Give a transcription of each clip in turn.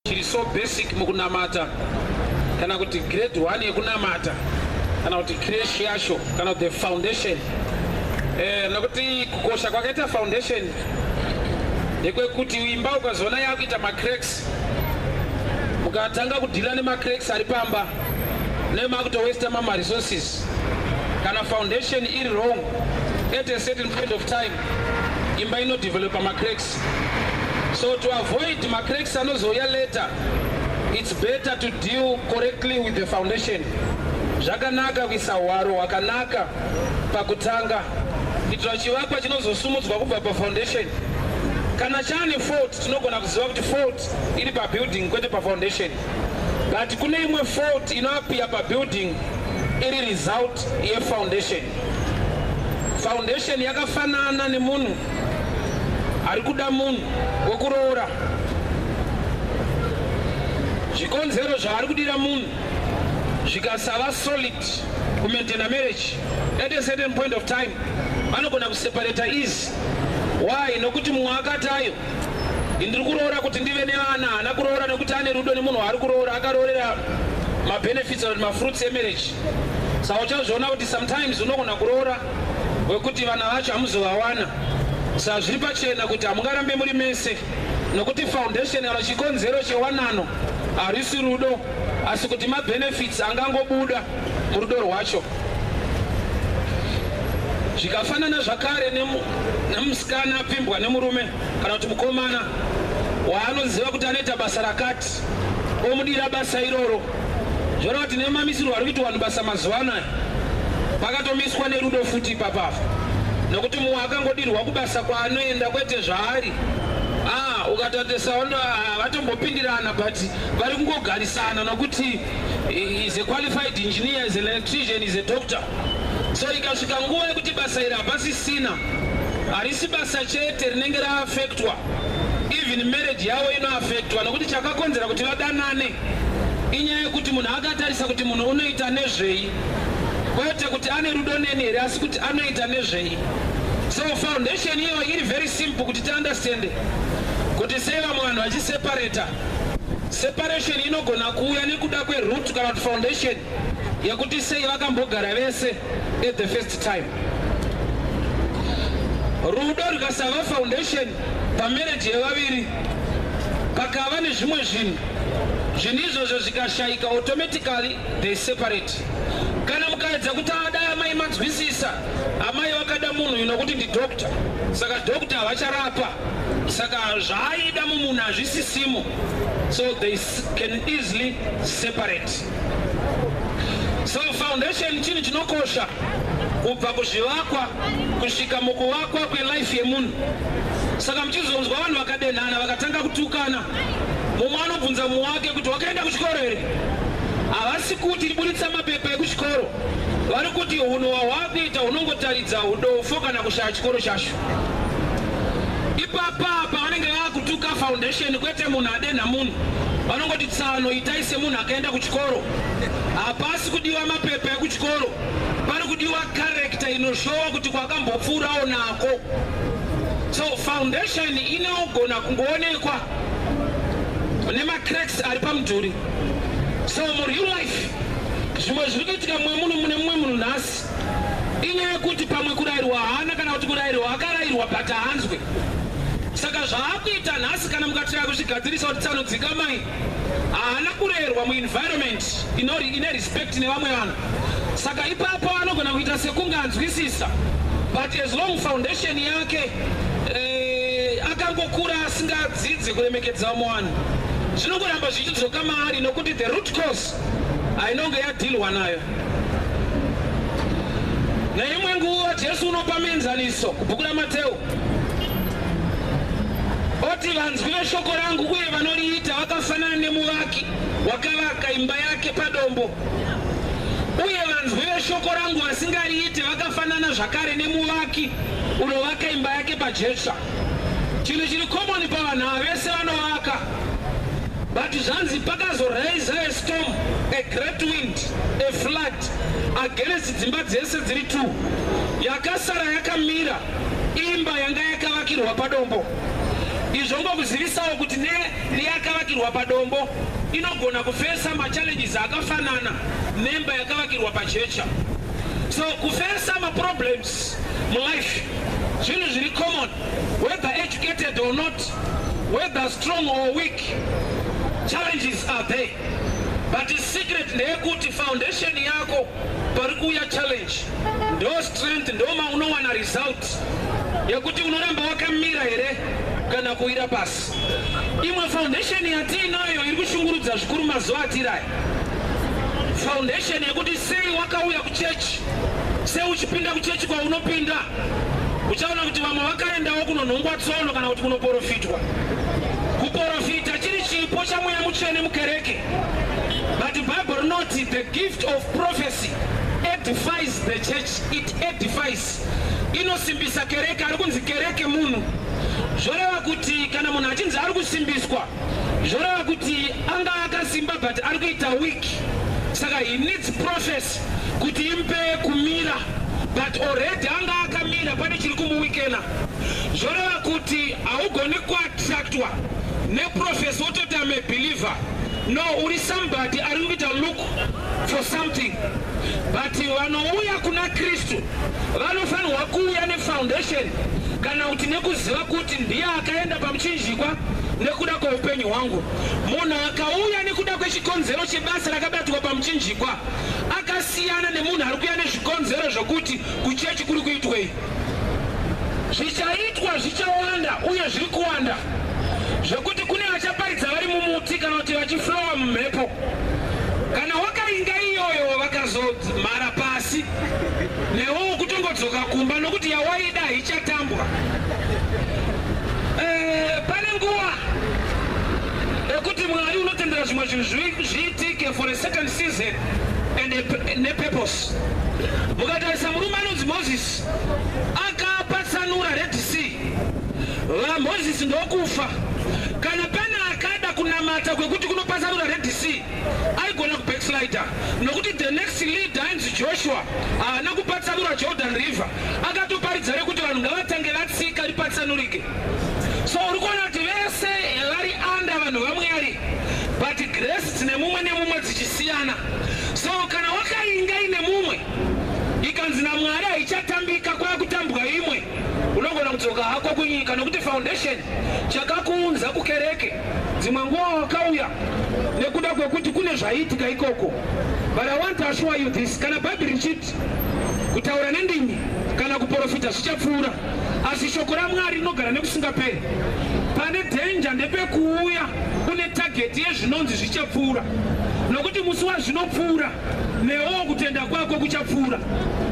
chiri so basic mukunamata kana kuti grade one yekunamata kana kuti cresh yacho kana kuti the foundation eh, nokuti kukosha kwakaita foundation ndekwekuti imba ukazoona yakuita macracks mukatanga kudhira nemacracks ari pamba nemakutowesta mama resources kana foundation iri wrong at a certain point of time imba inodevelopa macracks so to avoid macracks anozouya later it's better to deal correctly with the foundation zvakanaka kuisa hwaro hwakanaka pakutanga kuitira chivakwa chinozosumudzwa kubva pafoundation kana chane fort Tinogona kuziva kuti fault iri pabuilding kwete pafoundation but kune imwe fault inoapia pabuilding iri result yefoundation. Foundation yakafanana nemunhu ari kuda munhu wekuroora zvikonzero zvaari kudira munhu zvikasava solid kumaintaina marriage at a certain point of time vanogona kuseparata ease Why? Nokuti mumwe akati ayo ndiri kuroora kuti ndive nevana haana kuroora nekuti ane rudo nemunhu waari kuroora akaroorera mabenefits or mafruits emarriage saka uchazviona kuti sometimes unogona kuroora wekuti vana vacho hamuzovawana saka zviri pachena kuti hamungarambe muri mese nokuti foundation kana chikonzero chewanano harisi rudo asi kuti mabenefits angangobuda murudo rwacho zvikafanana zvakare nemusikana apfimbwa nemurume kana kuti mukomana waanoziva kuti anoita basa rakati omudira basa iroro zvoreva kuti nemamisirwo ari kuiti vanhu basa mazuva anaya pakatomiswa nerudo futi ipapafa nokuti mumwe akangodirwa kubasa kwaanoenda kwete zvaari ah, ukatatesaondo ah, vatombopindirana but vari kungogarisana nokuti He is a qualified engineer, is an electrician, is a doctor. So ikasvika nguva yekuti basa iri hapasisina, harisi basa chete rinenge raaffectwa, even marriage yavo inoaffectwa nokuti chakakonzera kuti vadanane inyaya yekuti munhu akatarisa kuti munhu unoita nezvei kwete kuti ane rudo neni here asi kuti anoita nezvei so foundation iyo iri very simple kuti tiunderstande kuti sei vamwe vanhu vachiseparata Separation inogona kuuya nekuda kwe root kana kuti foundation yekuti sei vakambogara vese at the first time. Rudo rukasava foundation pamarriage yevaviri pakava nezvimwe zvinhu zvinhu izvozvo zvikashaika automatically they separate. Kana mukaedza kuti adai amai manzwisisa amai vakada munhu inokuti ndi doctor saka doctor havacharapa saka zvaaida mumunhu hazvisisimo so they can easily separate so foundation chinhu chinokosha kubva kuzvivakwa kusvika mukuvakwa kwelife yemunhu saka muchizonzwa vanhu vakadenhana vakatanga kutukana mumwe anobvunza mumwe wake kuti wakaenda kuchikoro here havasi kuti tiburitsa mapepa ekuchikoro vari kuti hunhu hwahwakuita hunongotaridza udofo kana kushaya chikoro chacho ipapa apa vanenge vakutuka foundation kwete munhu adenha munhu vanongoti tsano itai semunhu akaenda kuchikoro hapasi kudiwa mapepa ekuchikoro pari kudiwa karekta inoshowa kuti kwakambopfuurawo nako so foundation inogona kungoonekwa nemacracks ari pamudhuri so mureal life zvimwe zviri kuitika mumwe munhu mune mumwe munhu nhasi inyaya yekuti pamwe kurairwa haana kana kuti kurairwa akarairwa but haanzwe saka zvaakuita nhasi kana mukatira kuzvigadzirisa kuti tsano dzikamai haana kurerwa muenvironment ine respect nevamwe vanhu saka ipapo anogona kuita sekunge anzwisisa but as long foundation yake eh, akangokura asingadzidze kuremekedza vamwe vanhu zvinongoramba zvichidzoka maari nokuti the root cause inonge yadhilwa nayo. Neimwe nguva Jesu unopa mienzaniso kubhuku raMateu oti vanzwi veshoko rangu uye vanoriita vakafanana nemuvaki wakavaka imba yake padombo uye vanzwi veshoko rangu vasingariite vakafanana zvakare nemuvaki unovaka imba yake pajecha Chinhu chiri common pavanhu ava vese vanovaka but zvanzi pakazo raise a storm a great wind a flood against dzimba dzese dziri two yakasara yakamira imba yanga yakavakirwa padombo izvo ngokuzivisawo kuti ne neyakavakirwa padombo inogona kufesa machallenges akafanana nemba yakavakirwa pajecha so kufesa maproblems mulife zvinhu zviri common whether educated or not whether strong or weak challenges are there but secret ndeyekuti foundation yako pari kuuya challenge ndo strength ndoma unowana result yekuti unoramba wakamira here kana kuwira pasi Imwe foundation yatiinayo iri kushungurudza zvikuru mazuva atiri aya, foundation yekuti sei wakauya kuchechi, sei uchipinda kuchechi kwaunopinda, uchaona kuti vamwe vakaendawo kunonhongwa tsono kana kuti kunoporofitwa. Kuporofita chiri chipo chamweya mutsvene mukereke, but Bible rinoti the gift of prophecy edifies the church, it edifies inosimbisa kereke ari kunzi kereke munhu zvoreva kuti kana munhu achinzi ari kusimbiswa zvoreva kuti anga akasimba but ari kuita week saka he needs process kuti impe kumira but already anga akamira pane chiri kumuwikena zvoreva kuti haugoni kuattractwa neprofesi wototi ame believer no uri somebody ari kuita look for something but vanouya kuna kristu vanofanirwa kuuya nefoundation kana kuti nekuziva kuti ndiye akaenda pamuchinjikwa nekuda kweupenyu hwangu munhu akauya nekuda kwechikonzero chebasa rakabatwa pamuchinjikwa akasiyana nemunhu ari kuya nezvikonzero zvokuti kuchechi kuri kuitwei Zvichaitwa zvichawanda uye zviri kuwanda zvekuti kune vachaparidza vari mumuti kana kuti vachiflowa mumhepo. Kana wakainga iyoyo vakazomhara pasi newewo kutongodzoka kumba nokuti yawaida haichatambwa. Eh, pane nguva yekuti Mwari unotendera zvimwe zvinhu zviitike for a certain season and a, and a purpose. Mukatarisa murume anonzi Mozisi akapa sanura Red Sea, VaMozisi ndokufa. Kana pane akada kunamata kwekuti kunopa sanura Red Sea aigona kubackslider nokuti the next leader ainzi Joshua haana kupatsanura Jordan River, akatoparidza rekuti vanhu ngavatange vatsika ripatsanurike. So uri kuona kuti vese vari under vanhu vaMwari but grace dzine mumwe nemumwe dzichisiyana. So kana wakainga ine mumwe ikanzi naMwari haichatambika kwakutambwa imwe, unogona kudzoka hako kunyika nokuti foundation chakakuunza kukereke dzimwe nguva wakauya nekuda kwekuti kune zvaiitika ikoko. But I want to assure you this, kana Bhaibheri richiti kutaura nendimi kana kuporofita zvichapfuura asi shoko ramwari rinogara nekusingaperi pane dhenja ndepekuuya une tageti yezvinonzi zvichapfuura nokuti musi wazvinopfuura newo kutenda kwako kuchapfuura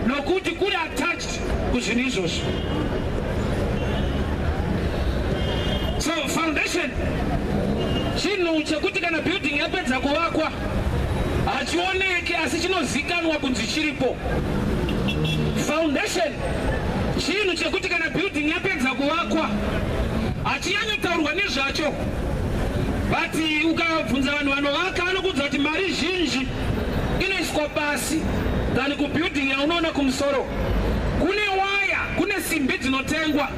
nokuti kuri attached kuzvinhu izvozvo so foundation chinhu chekuti kana building yapedza kuvakwa hachioneke asi chinozikanwa kunzi chiripo foundation Chinhu chekuti kana building yapedza kuvakwa hachinyanyotaurwa nezvacho but ukabvunza vanhu vanovaka vanokuudza kuti mari zhinji inoiswa pasi than kubuilding yaunoona kumusoro kune waya kune simbi dzinotengwa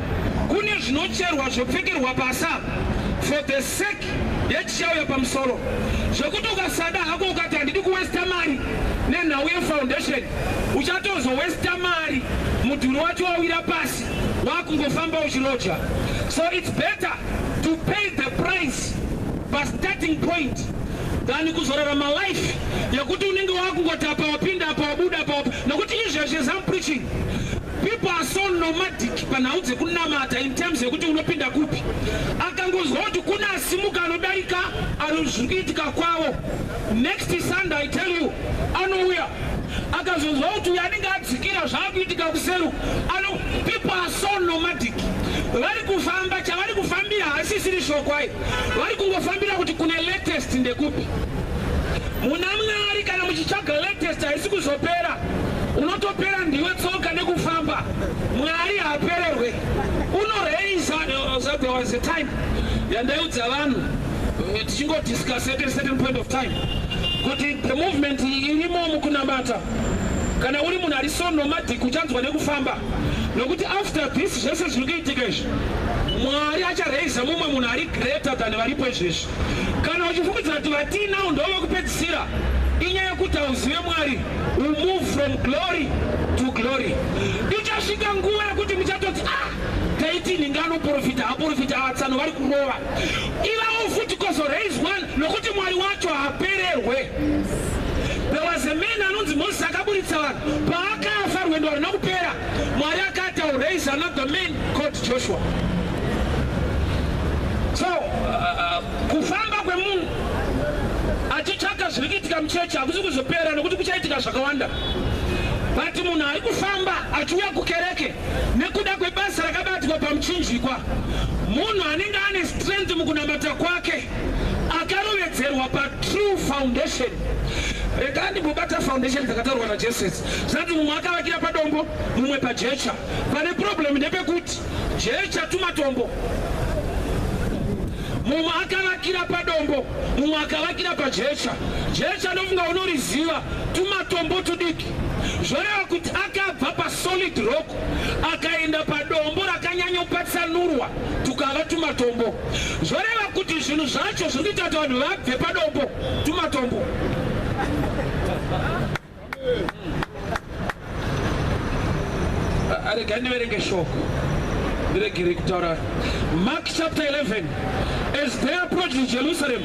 kune zvinocherwa zvopfekerwa pasi apa for the sake yechichauya pamusoro zvekuti ukasada hako ukati handidi kuwesta mari nenhau yefoundation uchatozo westa mari mudhuri wacho wawira pasi wakungofamba uchiroja so it's better to pay the price pastarting point than kuzorarama life yekuti unenge wakungoti apa wapinda apa wabuda apa wap... nokuti izvezvi as am preaching people are so nomadic panhau dzekunamata in terms yekuti unopinda kupi akangonzwa kuti kuna asimuka anodarika anozvikuitika kwavo Next Sunday I tell you anouya akazonzwa kuti uyo anenge adzikira zvaakuitika kuseru ano people are so nomadic vari kufamba chavari kufambira hasisiri shokwai vari kungofambira kuti kune latest ndekupi muna mwari kana muchitsvaga latest haisi kuzopera unotopera ndiwe tsoka nekufamba mwari haapererwe unoreiza uh, there was a time yandaiudza vanhu eh, tichingodiscussa at a certain point of time kuti the movement irimo mukunamata kana uri munhu ari so nomadic uchanzwa nekufamba nokuti after this zvese zviri kuitika izvi mwari acharaiza mumwe munhu ari greater than varipo izvezvi kana uchifungidzira kuti vatiinawo ndo vekupedzisira inyaya yekuti hauzive mwari u move from glory to glory ichasvika nguva yekuti muchatoti ah taiti nhinga anoprofita aporofita atsano vari kurova Iva mufuti kozo raise one nokuti mwari wacho hapererwe. There was a man anonzi Moses akaburitsa vanhu paakafa rwendo harina kupera mwari akati au raise another man called Joshua. So uh, uh, kufamba kwemunhu achitsvaka zviri kuitika muchechi hakusi kuzopera nokuti kuchaitika zvakawanda but munhu ari kufamba achiuya kukereke Nekuda kwebasa rakabatwa pamuchinjikwa, munhu anenge ane strength mukunamata kwake akarovedzerwa patrue foundation rega ndimbobata foundation dzakataurwa najesus zati mumwe akavakira padombo mumwe pajecha pane problem ndepekuti jecha tumatombo mumwe akavakira padombo mumwe akavakira pajecha jecha ndofunga unoriziva tumatombo tudiki zvoreva kuti akabva pasolid rock akaenda padombo rakanyanyopatsanurwa tukava tumatombo zvoreva kuti zvinhu zvacho zviri kuita kuti vanhu vabve padombo tumatombo arega ndiverenge shoko ndiregere kutaura mark chapter 11 as they approached jerusalem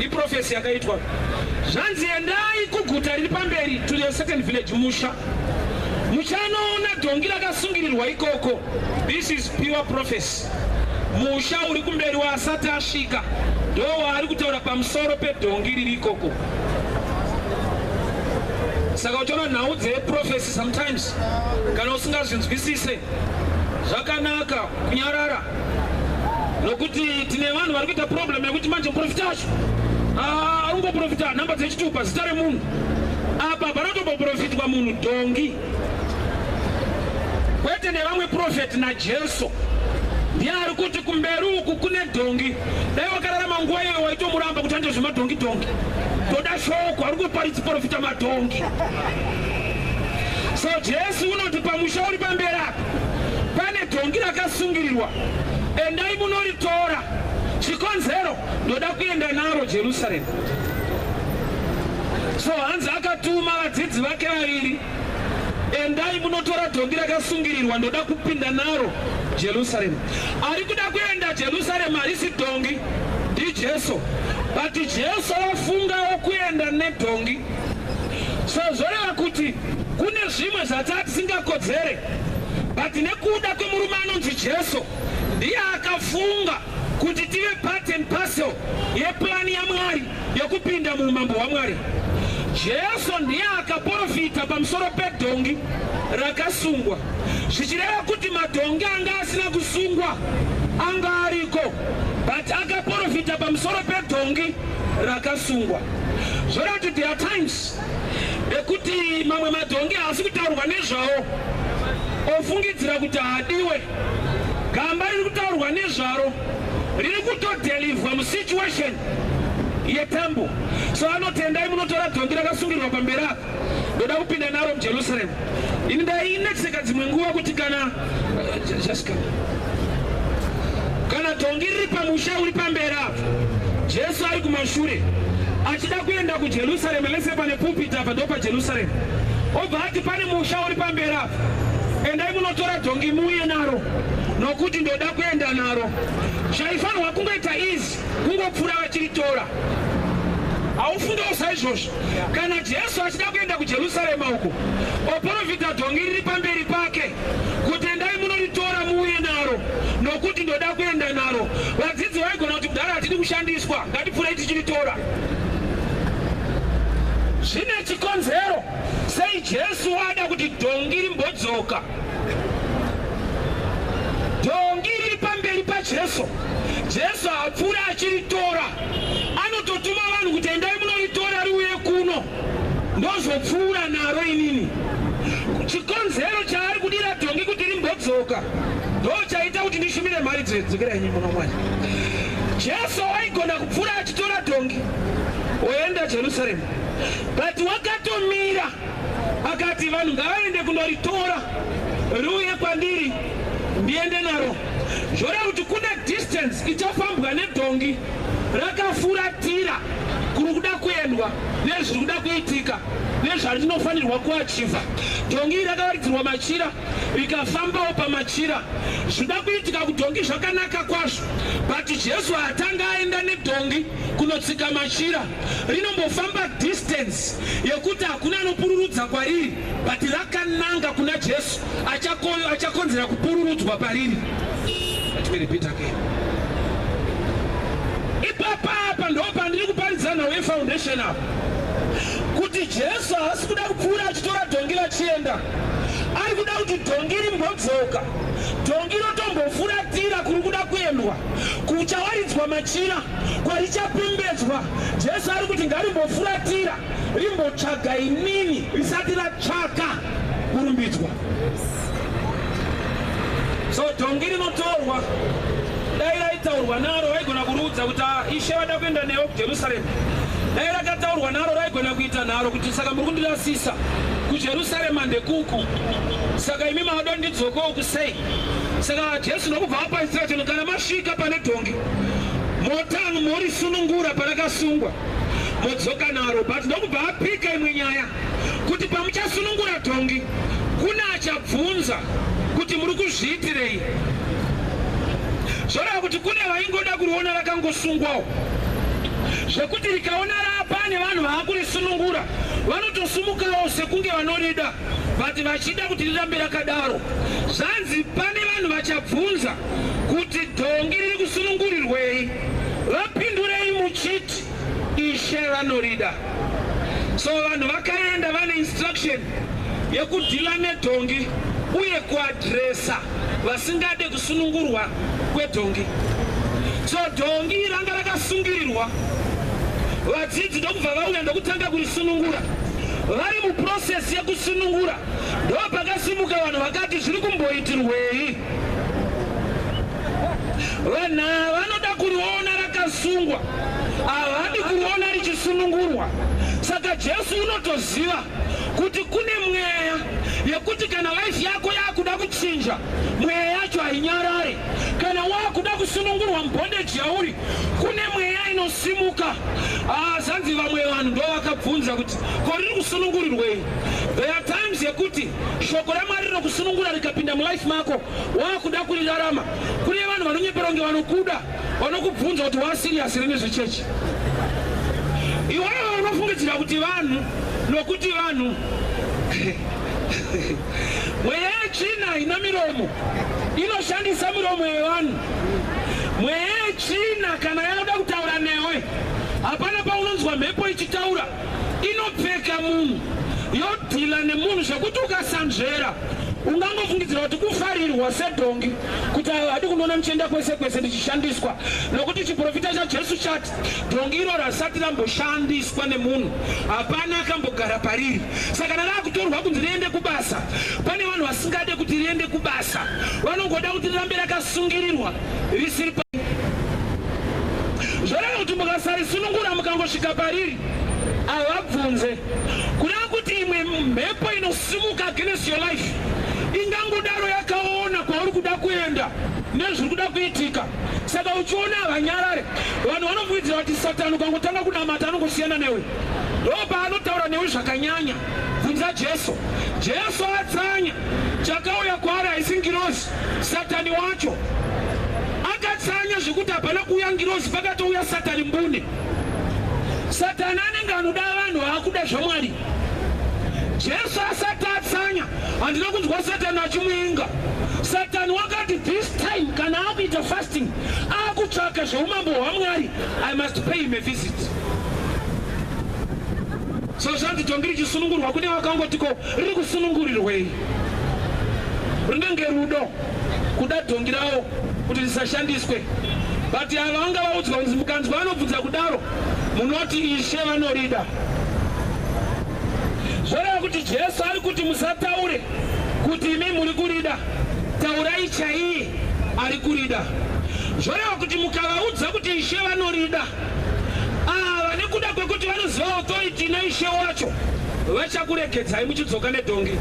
iprofesi yakaitwa zvanzi endai kuguta riri pamberi to a certain village musha muchanoona dhongi rakasungirirwa ikoko this is pure prophecy musha uri kumberi waasati asvika ndo waari kutaura pamusoro pedhongi riri ikoko saka uchiona nhau dzeprofesi sometimes kana usingazvinzwisise zvakanaka kunyarara nokuti tine vanhu vari kuita problem yekuti manje muprofita wacho ah, ari kungoprofita nhamba dzechitupa zita remunhu apa panotomboprofitwa munhu dhongi kwete nevamwe profeti najesu ndiye ari kuti kumberi uku kune dhongi dai wakararama nguva iyoyo waitomuramba kuti ande zvemadhongi dhongi toda shoko ari kuparidzi profita madhongi so jesu unoti pamusha uri pamberi apa Pane dhongi rakasungirirwa, endai munoritora. Chikonzero, ndoda kuenda naro Jerusaremu. So hanzi akatuma vadzidzi vake vaviri, endai munotora dhongi rakasungirirwa, ndoda kupinda naro Jerusaremu. Ari kuda kuenda Jerusaremu, harisi dhongi, ndiJesu. But Jesu wafungawo kuenda nedhongi, so zvoreva kuti Kune zvimwe zvataa tisingakodzere but nekuda kwemurume anonzi Jesu ndiye akafunga kuti tive part and parcel yepurani yaMwari yekupinda muumambo hwaMwari. Jesu ndiye akaporofita pamusoro pedhongi rakasungwa zvichireva kuti madhongi anga asina kusungwa anga ariko but akaporofita pamusoro pedhongi rakasungwa zvorati there are times ekuti mamwe madhongi haasi kutaurwa nezvawo ofungidzira kuti haadiwe gamba riri kutaurwa nezvaro riri kutodelivhwa musituation yetambo so anotendai munotora dhongi rakasungirwa pamberi apa ndoda kupinda naro mujerusalemu Ini ndainetseka dzimwe nguva kuti kana uh, kana dhongi riri pamusha uri pamberi apo Jesu ari kumashure achida kuenda kuJerusarema lese pane pulpit apa ndopa Jerusalem obva ati pane musha uri pamberi apa endai munotora dhongi muuye naro nokuti ndoda kuenda naro zvaifanirwa kungoita izi kungopfura vachiritora haufundewo saizvozvo kana jesu achida kuenda kujerusarema uko oporofita dhongi riri pamberi pake kuti endai munoritora muuye naro nokuti ndoda kuenda naro vadzidzi vaigona kuti kudhara hatidi kushandiswa ngatipfurei tichiritora zvine chikonzero sei jesu ada kuti dhongi rimbodzoka Dhongi riri pamberi paJesu. Jesu hapfuure achiritora. Anototuma vanhu kuti endai munoritora riuye kuno. Ndozopfuura naro inini. Chikonzero chaari kudira dhongi kuti rimbodzoka ndochaita kuti ndishumire mhari dzedzokera inyi muno mwana. Jesu waigona kupfuura achitora dhongi oenda Jerusalem. But wakatomira Akati vanhu ngavaende kunoritora riuye kwandiri ndiende naro. Zvoreva kuti kune distance ichafambwa nedhongi rakafuratira kuri kuda kuendwa nezviri kuda kuitika nezvarinofanirwa kuachiva. Dhongi iri rakavaridzirwa machira rikafambawo pamachira. Zvinoda kuitika kudhongi zvakanaka kwazvo, but Jesu haatanga aenda nedhongi kunotsika machira. rinombofamba distance yekuti hakuna anopururudza kwariri but rakananga kuna jesu achakoyo achakonzera kupururudzwa pariri ipapapa ndo pandiri kuparidza nhau yefoundation apo kuti jesu haasi kuda kupfuura achitora dhongi vachienda ari kuda kuti dhongi rimbodzoka dhongi rotombofuratira kuri kuda kuendwa kuchawaridzwa machira kwarichapembedzwa, Jesu ari kuti ngarimbofuratira rimbotsvaga inini risati ratsvaka kurumbidzwa. So dhongi rinotorwa dai raitaurwa naro raigona kuruudza kuti ah, ishe vada kuenda newe kujerusaremu dai rakataurwa naro raigona kuita nharo kuti saka muri kundirasisa kujerusaremu andekuku saka imi maoda ndidzokowo kusei saka jesu nokubva apaisira chino kana masvika pane dhongi Motamu morisunungura parakasungwa modzoka naro but ndokubva apika imwe nyaya kuti pamuchasunungura dhongi kune achabvunza kuti muri kuzviitirei zvoreva kuti kune vaingoda kuriona rakangosungwawo zvekuti rikaona rapa nevanhu vaakurisunungura vanotosumukawo sekunge vanorida vati vachida kuti rirambe rakadaro zvanzi pane vanhu vachabvunza kuti dhongi riri kusunungurirwei vapindurei muchiti ishe vanorida so vanhu vakaenda vane instruction yekudhila nedhongi uye kuadresa vasingade kusunungurwa kwedhongi so dhongi ranga rakasungirirwa vadzidzi ndokubva vauya ndokutanga kurisunungura vari muprocess yekusunungura ndopakasimuka vanhu vakati zviri kumboitirwei Vanhu ava vanoda kuriona rakasungwa, havadi kuriona richisunungurwa. Saka Jesu unotoziva kuti kune mweya yekuti kana life yako yakuda kuchinja, mweya yacho hainyarare. Kana wakuda kusunungurwa mubondeji yauri, kune mweya inosimuka. Ah, zvanzi vamwe vanhu ndovakabvunza kuti ko riri kusunungurirwei? There are times yekuti Shoko raMwari rinokusunungura rikapinda mulife mako waakuda kurirarama. Kune vanhu vanonyeperwa kunge vanokuda, vanokubvunza kuti waasiriyasi rini zvechechi. Iwewe unofungidzira kuti vanhu nokuti vanhu mweya yetsvina ina miromo inoshandisa miromo yevanhu. Mweya yetsvina kana yakuda kutaura newe, hapana paunonzwa mhepo ichitaura. inopfeka munhu yodhila nemunhu zvekuti ukasanzvera ungangofungidzira kuti kufarirwa sedhongi kuti hadi kunoona ndichienda kwese kwese ndichishandiswa nokuti chiprofita chajesu chati dhongi iro rasati ramboshandiswa nemunhu hapana akambogara pariri saka kana rakutorwa kunzi riende kubasa pane vanhu vasingade kuti riende kubasa vanongoda kuti rirambe rakasungirirwa risiri pa zvoreva kuti mukasarisunungura mukangosvika pariri havabvunze kureva kuti imwe mhepo inosimuka against your life ingangodaro yakaona kwauri kuda kuenda nezviri kuda kuitika saka uchiona havanyarare vanhu vanofuidzira kuti satani ukangotanga kunamata anongosiyana newe ndopa anotaura newe zvakanyanya bvunza jesu jesu atsanya chakauya kwaari haisi ngirozi Satani wacho akatsanya zvekuti hapana kuuya ngirozi pakatouya satani mbune. Satani anenge anoda vanhu vaakuda zvamwari. Jesu asati atsanya handina kunzwa satani achimuinga. Satani wakati this time kana akuita fasting akutsvaka zveumambo hwamwari I must pay him a visit. So zvanzi tongi richisunungurwa kune vakangotiko riri kusunungurirwei. Rinenge rudo kuda dhongi rawo kuti risashandiswe. But ava vanga vaudzwa kunzi mukanzwa vanobvunza kudaro munoti ishe vanorida. Zvoreva kuti Jesu ari kuti musataure kuti imi muri kurida, taurai chaiye ari kurida. Zvoreva kuti mukavaudza kuti ishe vanorida Ava nekuda kwekuti vanoziva authority naishe wacho vachakuregedzai muchidzoka nedhongi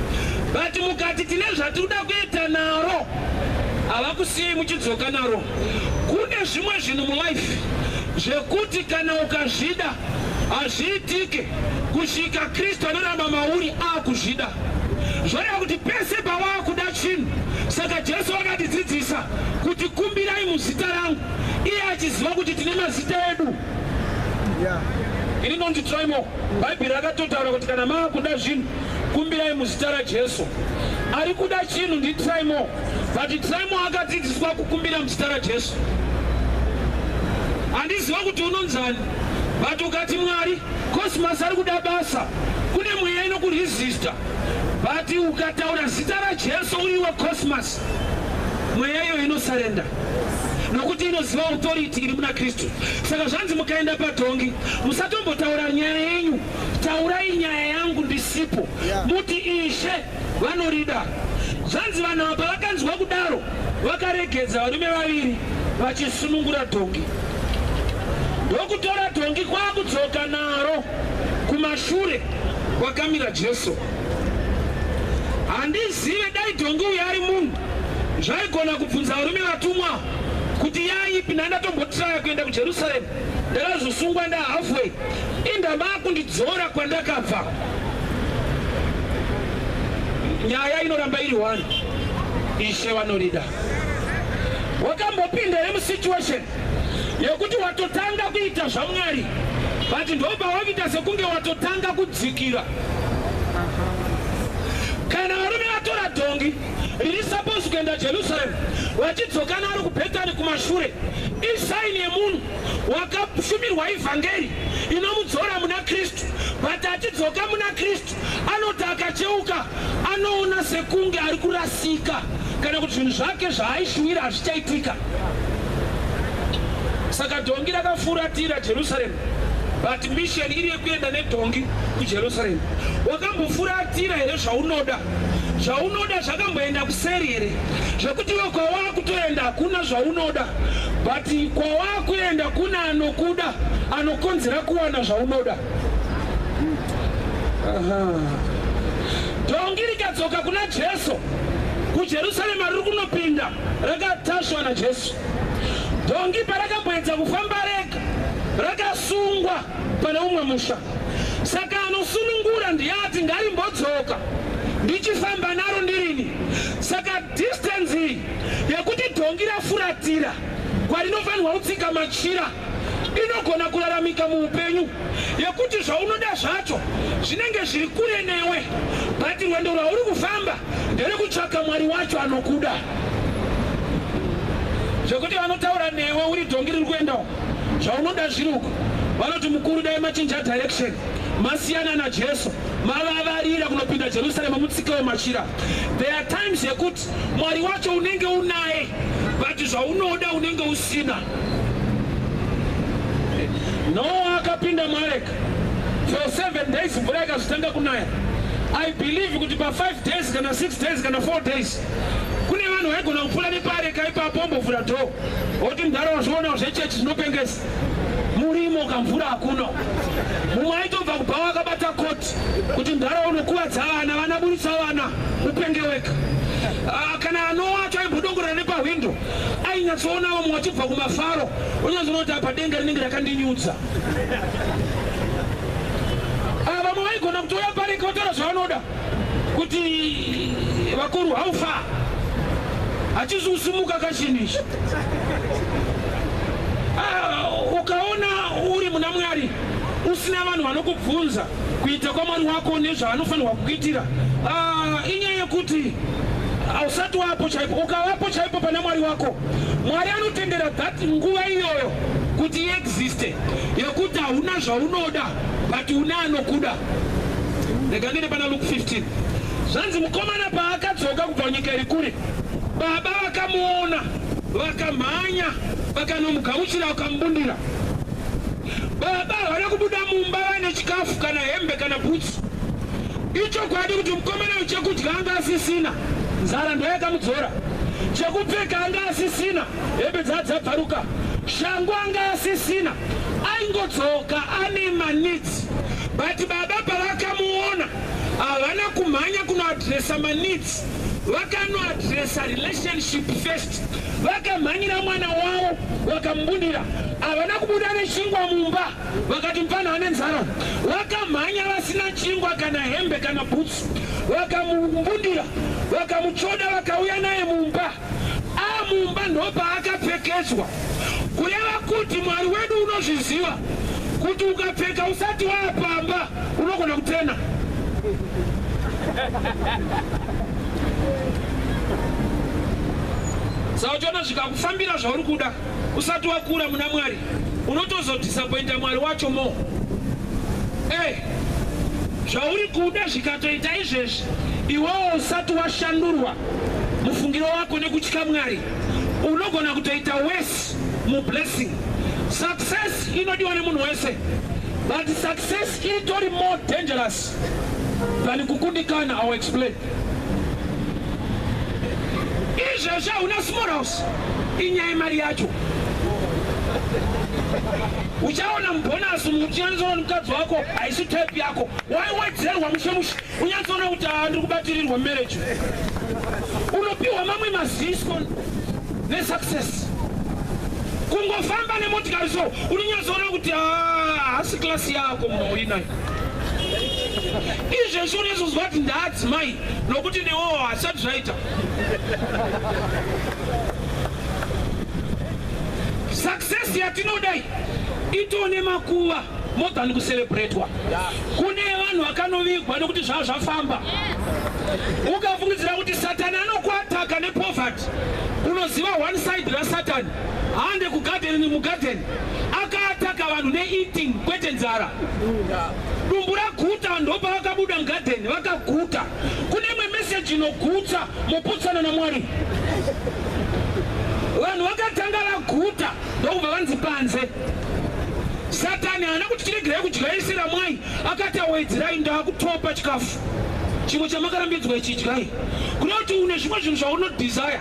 but mukati tine zvatinoda kuita naro havakusiyei muchidzoka naro. Kune zvimwe zvinhu mulife zvekuti kana ukazvida hazviitike kusvika Kristu anoramba mauri akuzvida zvoreva kuti pese pawaakuda chinhu saka Jesu vakatidzidzisa kuti kumbirai muzita rangu iye achiziva kuti tine mazita edu rinonzi trimo bhaibheri rakatotaura kuti kana maakuda zvinhu kumbirai muzita rajesu ari kuda chinhu nditrimo but trimo akadzidziswa kukumbira muzita rajesu handiziva kuti unonzani but ukati mwari cosmas ari kuda basa kune mweya inokuresista but ukataura zita rajesu uriwe cosmas Mweya iyo inosarenda nokuti inoziva authority iri muna Kristu. Saka zvanzi mukaenda padhongi musatombotaura nyaya yenyu, taurai nyaya yangu ndisipo, muti Ishe vanorida. Zvanzi vanhu ava pavakanzwa kudaro vakaregedza varume vaviri vachisunungura dhongi ndokutora dhongi kwakudzoka naro kumashure kwakamira Jesu. handizive dai dhongi uyo ari munhu zvaigona kubvunza varume vatumwa kuti yaipi nandatombotaya kuenda kujerusaremu ndakazosungwa ndahalfway indamaakundidzora kwandakabva nyaya inoramba iri one ishe vanorida wakambopinda here musituation yekuti watotanga kuita zvamwari but ndobva wakuita sekunge watotanga kudzikira kana varume vatora dhongi riri suppose kuenda jerusalem vachidzoka naro kubhetani kumashure isaini yemunhu wakashumirwa ivhangeri inomudzora muna kristu but achidzoka muna kristu Anoti akacheuka anoona sekunge ari kurasika kana kuti zvinhu zvake zvaaishuwira hazvichaitika. Saka dhongi rakafuratira Jerusaremu but mission iri yekuenda nedhongi kujerusalem wakambofuratira here zvaunoda zvaunoda zvakamboenda kuseri here zvekuti iwe kwawakutoenda hakuna zvaunoda but kwawakuenda kuna anokuda anokonzera kuwana zvaunoda Dhongi rikadzoka kuna Jesu kuJerusarema riri kunopinda rakatasvwa naJesu. Dhongi parakapedza kufamba rega rakasungwa pane umwe musha. Saka anosunungura ndiye ati ngarimbodzoka ndichifamba naro ndirini. Saka distance iyi yekuti dhongi rafuratira kwarinofanirwa kutsika machira inogona kuraramika muupenyu yekuti zvaunoda zvacho zvinenge zviri kure newe but rwendo rwauri kufamba nderekutsvaka mwari wacho anokuda zvekuti vanotaura newe uri dhongi riri kuendawo zvaunoda zviri uku vanoti mukuru dai machinja direction masiyana najesu mavavarira kunopinda jerusarema mutsika wemachira there are times yekuti Mwari wacho unenge unaye but zvaunoda unenge usina. Noa akapinda muareka for seven days mvura ikazotanga kunaya. I believe kuti pa five days kana six days kana four days kune vanhu vaigona kupfuura nepaareka ipapo ombovhura door oti mdhara wazviona zvechechi zvinopengesa murimo kamvura hakuno mumwe aitobva kubhawa akabata koti kuti mdhara unokuvadza vana vana buritsa vana upenge wega ah, kana anowacho aimbodongorera nepahwindo ainyatsoona vamwe vachibva kumafaro unyanzoona kuti apa denga rinenge rakandinyudza ah, vamwe vaigona kutouya pareka vataura zvavanoda kuti vakuru how far hachizi kusimuka kachinhu ichi ah, ukaona uri muna mwari usina vanhu vanokubvunza kuita kwamwari wako nezvaanofanirwa kukuitira ah, inyaya yekuti hausati wapo chaipo ukavapo chaipo pana mwari wako mwari anotendera that nguva iyoyo kuti iexiste yekuti hauna zvaunoda but une anokuda rega ndine pana luke 15 zvanzi mukomana paakadzoka kubva nyika iri kure baba vakamuona vakamhanya vakanomugamuchira vakamubundira baba havana kubuda mumba vaine chikafu kana hembe kana bhutsi ichokwadi kuti mukomana uyu chekudya anga asisina nzara ndoyakamudzora chekupfeka anga asisina hembe dzaadzabvaruka shangu anga asisina aingodzoka ane manidzi But baba pavakamuona havana kumhanya kunoadresa maneeds vakanoadresa relationship first vakamhanyira mwana wavo vakamubudira havana kubuda nechingwa mumba vakati mupana ane nzara vakamhanya vasina chingwa kana hembe kana bhutsu vakamubudira vakamutsvoda vakauya naye mumba Amumba ndopaakapfekedzwa kureva kuti Mwari wedu unozviziva kuti ukapfeka usati waapamba unogona kutena sauchiona zvikakufambira zvauri kuda usati wakura muna mwari unotozodhisapointa mwari wacho mo e eh, zvauri kuda zvikatoita izvezvi iwewo usati washandurwa mufungiro wako nekutya mwari unogona kutoita wese mublessing success inodiwa nemunhu wese but success itori more dangerous than kukundikana our explain izvezvi hauna small house inyaya yemari yacho uchaona mubhonasi mukuchinanisawa nemukadzi wako haisi type yako waiwedzerwa mushe mushe Unyatsoona kuti haa ndiri kubatirirwa marriage. Unopiwa mamwe mazisko nesuccess. Kungofamba nemotikari so unonyatsoona kuti haa hasi class yako mauinayo. Izvezvi unezozwa kuti ndaadzimai nokuti newowo hasati zvaita. Success yatinoda iyi itone makuva more than kucelebratwa. Kune vanhu vakanovigwa nekuti zvava zvafamba. Ukafungidzira kuti Satani anokuataka nepoverty, unoziva one side raSatani hande kugadheni mugadheni akaataka vanhu neeating kwete nzara. Dumbu raguta ndopa vakabuda mugadheni vakaguta. Kune imwe meseji inogutsa moputsana naMwari. Vanhu vakatanga vaguta ndokubva vanzi panze. satani haana kuti tiregerai kudyaisira mwai akati awedzerai ndaakutopa chikafu chimwe chamakarambidzwa ichi idyai kuda kuti une zvimwe zvinhu zvaunodesire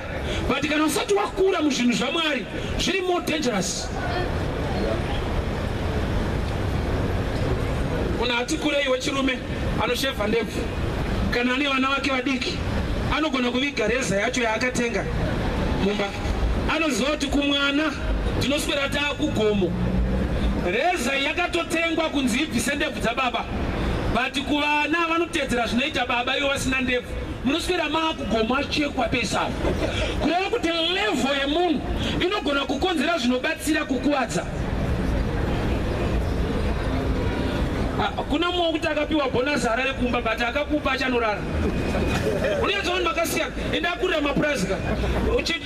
but kana usati wakura muzvinhu zvamwari zviri more dangerous munhu ati kurei wechirume anoshevha ndebvu kana ane vana vake vadiki anogona kuviga reza yacho yaakatenga mumba Anoziva kuti kumwana tinoswera taakugomo. Reza yakatotengwa kunzi ibvise ndebvu dzababa but kuvana vanotedzera zvinoita baba ivo vasina ndebvu munoswera maakugomo achekwa pese apo kureva kuti levho yemunhu inogona kukonzera zvinobatsira kukuvadza Ah, kuna mumwe wekuti akapiwa bhonasi harare kumba but akakupa achanorara unenge zvavanhu vakasiyana Enda kurira mapurazi ka.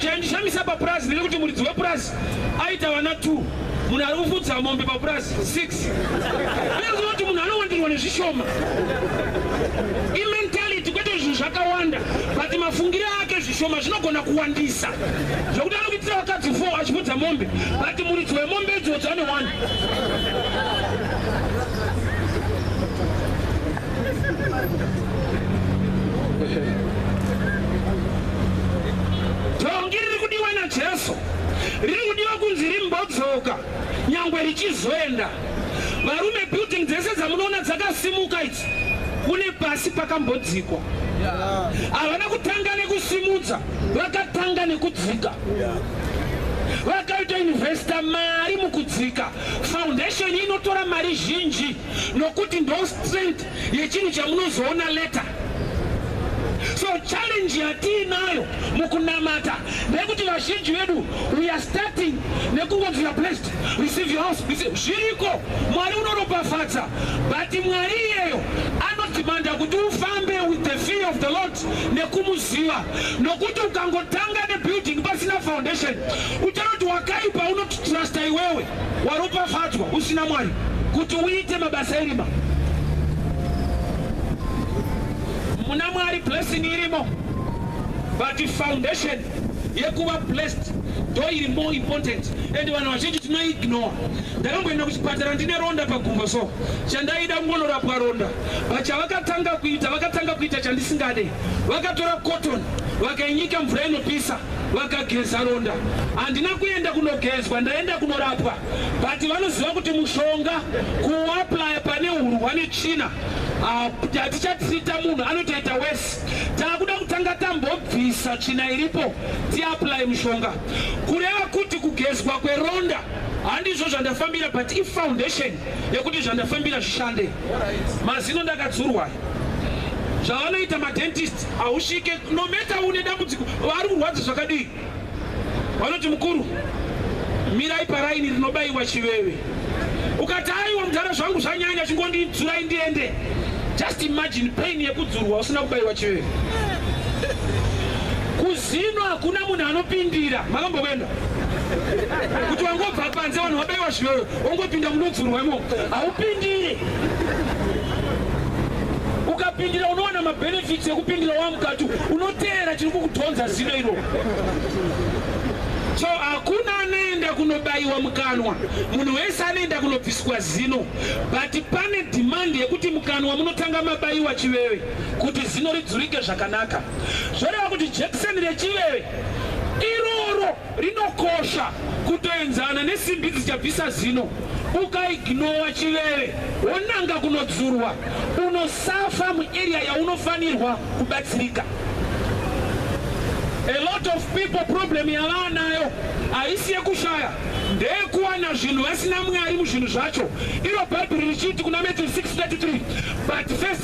Chaindishamisa papurazi ndechekuti muridzi wepurazi aita vana 2 munhu ari kufudza mombe papurazi 6 aizova kuti munhu anowandirwa nezvishoma imentality kwete zvinhu zvakawanda but mafungire ake zvishoma zvinogona kuwandisa zvekuti anokuitira vakadzi 4 achifudza mombe but muridzi wemombe idzodzo ane 1 Tongi riri kudiwa naJesu riri kudiwa kunzi rimbodzoka nyangwe richizoenda. Varume, building dzese dzamunoona dzakasimuka idzi kune pasi pakambodzikwa. Havana kutanga nekusimudza, vakatanga nekudzika. Vakaita investor mari mukudzika. Foundation inotora mari zhinji. nokuti ndo strength yechinhu chamunozoona later so challenge yatiinayo mukunamata nekuti vazhinji vedu we are starting nekungonzi your blessed receive your house zviriko mwari unoropafadza but mwari iyeyo anodhimanda kuti ufambe with the fear of the lord nekumuziva nokuti ukangotanga nebuilding pasina foundation uchanoti wakaipa unotitrusta iwewe waropafadzwa usina mwari kuti uite mabasa erima muna mwari blessing irimo but foundation yekuva blessed ndo iri more important and vanhu vazhinji tinoignore ndakamboenda kuchipatara ndine ronda pagumbo so chandaida kungonorapwa ronda but chavakatanga kuita vakatanga kuita chandisingade vakatora cotton vakainyika mvura inopisa vakageza ronda handina kuenda kunogezwa ndaenda kunorapwa but vanoziva kuti mushonga kuaplaya pane hurwa netsvina ah, hatichatrita munhu anotoita wese taakuda kutanga tambobvisa tsvina iripo tiaplay mushonga kureva kuti kugezwa kweronda handizvo zvandafambira but ifoundation yekuti zvandafambira zvishande mazino ndakadzurwa zvavanoita madentist hausvike nometa une dambudziko vari kurwadza zvakadii vanoti mukuru mirai paraini rinobaiwa chiveve ukati aiwa mudhara zvangu zvanyanya chingondidzurai ndiende just imagine pain yekudzurwa usina kubaiwa chiveve Zvino hakuna munhu anopindira. Makambokwenda kuti wangobva panze vanhu vabaiwa zviyoyo wongopinda munodzurwa imo haupindire ukapindira unowana mabenefits ekupindira wamukati unoteera chiri kukudhonza zino iro so hakuna anoenda kunobaiwa mukanwa munhu wese anoenda kunobviswa zino but pane dhimandi yekuti mukanwa munotanga mabaiwa chivewe kuti zino ridzurike zvakanaka zvoreva kuti jekiseni rechiveve iroro rinokosha kutoenzana nesimbi dzichabvisa zino ukaignowa chiveve wonanga kunodzurwa unosafa muarea yaunofanirwa kubatsirika a lot of people problem yavaanayo haisi yekushaya ndeyekuwana zvinhu vasina mwari muzvinhu zvacho iro bhaibheri richiti kuna matthew 633 but first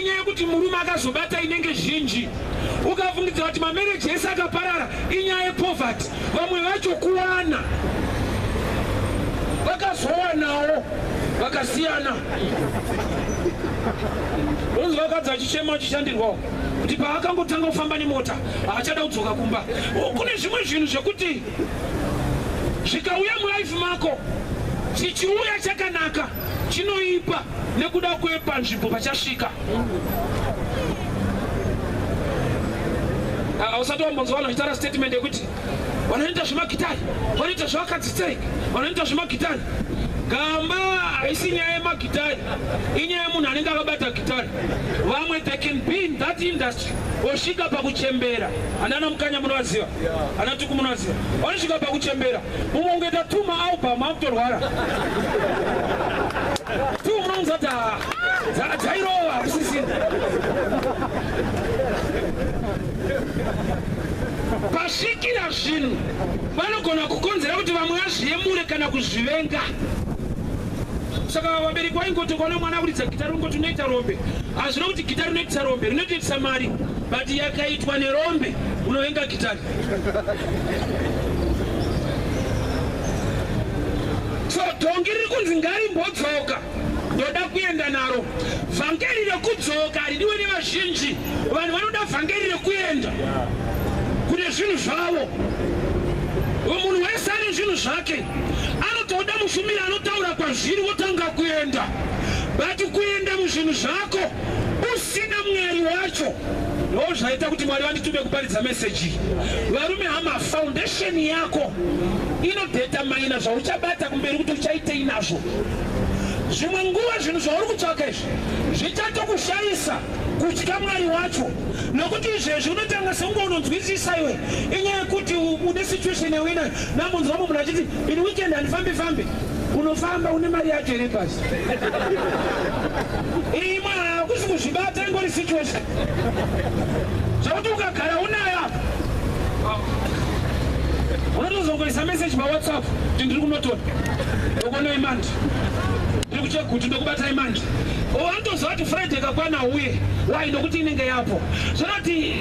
inyaya yekuti murume akazobata inenge zhinji ukafungidza kuti mamereji ese akaparara inyaya yepoverty vamwe vacho kuwana vakazowanawo vakasiyana onzi vakadzi vachichema vachishandirwawo kuti paakangotanga kufamba nemota haachada kudzoka kumba kune zvimwe zvinhu zvekuti zvikauya mulife mako chichiuya chakanaka chinoipa nekuda kwepanzvimbo pachasvika hausati wambonzwa vanhu vachitaura statement yekuti vanoita zvemagitari vanoita zvevakadzi sei vanoita zvemagitari gamba haisi nyaya yemagitari inyaya yemunhu anenge akabata gitari vamwe they can be in that industry osvika pakuchembera anana mukanya munovaziva anatuku munovaziva vanosvika pakuchembera Mumwe ungoita two maalbum akutorwara. Two unounza kuti haa ah, dzairova hakusisina. Pasvikira zvinhu vanogona kukonzera kuti vamwe vazviyemure kana kuzvivenga saka vabereki vaingoti ukaona mwana akuridza gita ringoti unoita rombe hazvina kuti gita rinoitisa rombe rinotoitisa mari but yakaitwa nerombe unovenga gitari so dhongi riri kunzi ngarimbodzoka ndoda kuenda naro vhangeri rekudzoka ridiwe nevazhinji vanhu vanoda vhangeri rekuenda kune zvinhu zvavo munhu wese ane zvinhu zvake anotoda mushumiri anotaura kwazviri wotanga kuenda but kuenda muzvinhu zvako usina mwari wacho Ndoo zvaita kuti Mwari vanditume kuparidza message iyi. Varume hama, foundation yako inodetermina zvauchabata kumberi kuti uchaitei nazvo. Zvimwe nguva zvinhu zvauri kutsvaka izvi zvichatokushaisa kutya Mwari wacho nokuti izvezvi unotanga sekunge unonzwisisa iwe inyaya yekuti une situation yawe inayo. Namunzwa mumwe munhu achiti in weekend handifambi fambi. unofamba une mari yacho iri pasi imwe hakusi kuzvibata ingori situation zvakuti ukagara unayo apa unotozongoisa message pawhatsapp kuti ndiri kunotora ndokuona imandi ndiri kucheka kuti ndokubata imandi watozowa kuti friday kakwana uye why nokuti inenge yapo zvanoti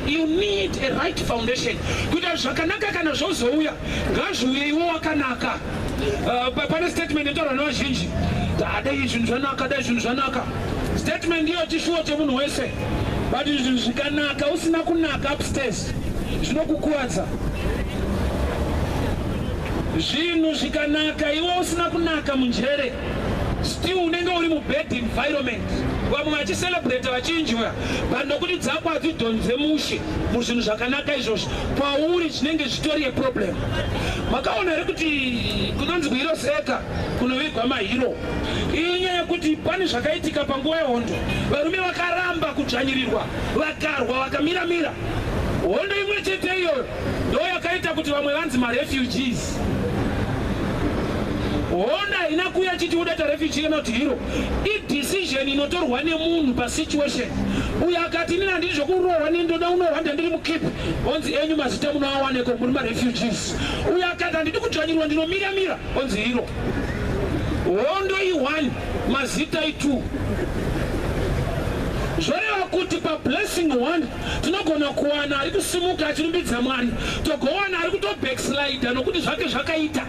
you need a right foundation kuita zvakanaka kana zvozouya ngazviuye iwo wakanaka uh, pane statement inotaurwa nevazhinji dai zvinhu zvanaka dai zvinhu zvanaka statement iyo chishuwo chemunhu wese but zvinhu zvikanaka usina kunaka upstairs zvinokukuvadza zvinhu zvikanaka iwo usina kunaka munjere still unenge uri mubad environment vamwe vachiselebrata vachinjwa but nokuti dzakwa dzidhonze mushe muzvinhu zvakanaka izvozvo kwauri chinenge zvitori yeproblem makaona here kuti kunonzi kuhiro seka kunovigwa mahiro iyi nyaya yekuti pane zvakaitika panguva yehondo varume vakaramba kudzvanyirirwa vakarwa vakamiramira hondo imwe chete iyoyo ndo yakaita kuti vamwe vanzi marefugees hondo haina kuya chiti udata refugee kana kuti hiro idecision inotorwa nemunhu pasituation uyo akati inini handiri zvekurohwa neni ndoda unohwa ndandiri mukip onzi enyu mazita munoawaneko muri marefugees uyo akati handidi kudzvanyirwa ndinomira mira onzi iro hondo i1 mazita i2 zvoreva kuti pablessing one tinogona kuwana ari kusimuka achirumbidza mwari togowana ari kutobackslide nokuti zvake zvakaita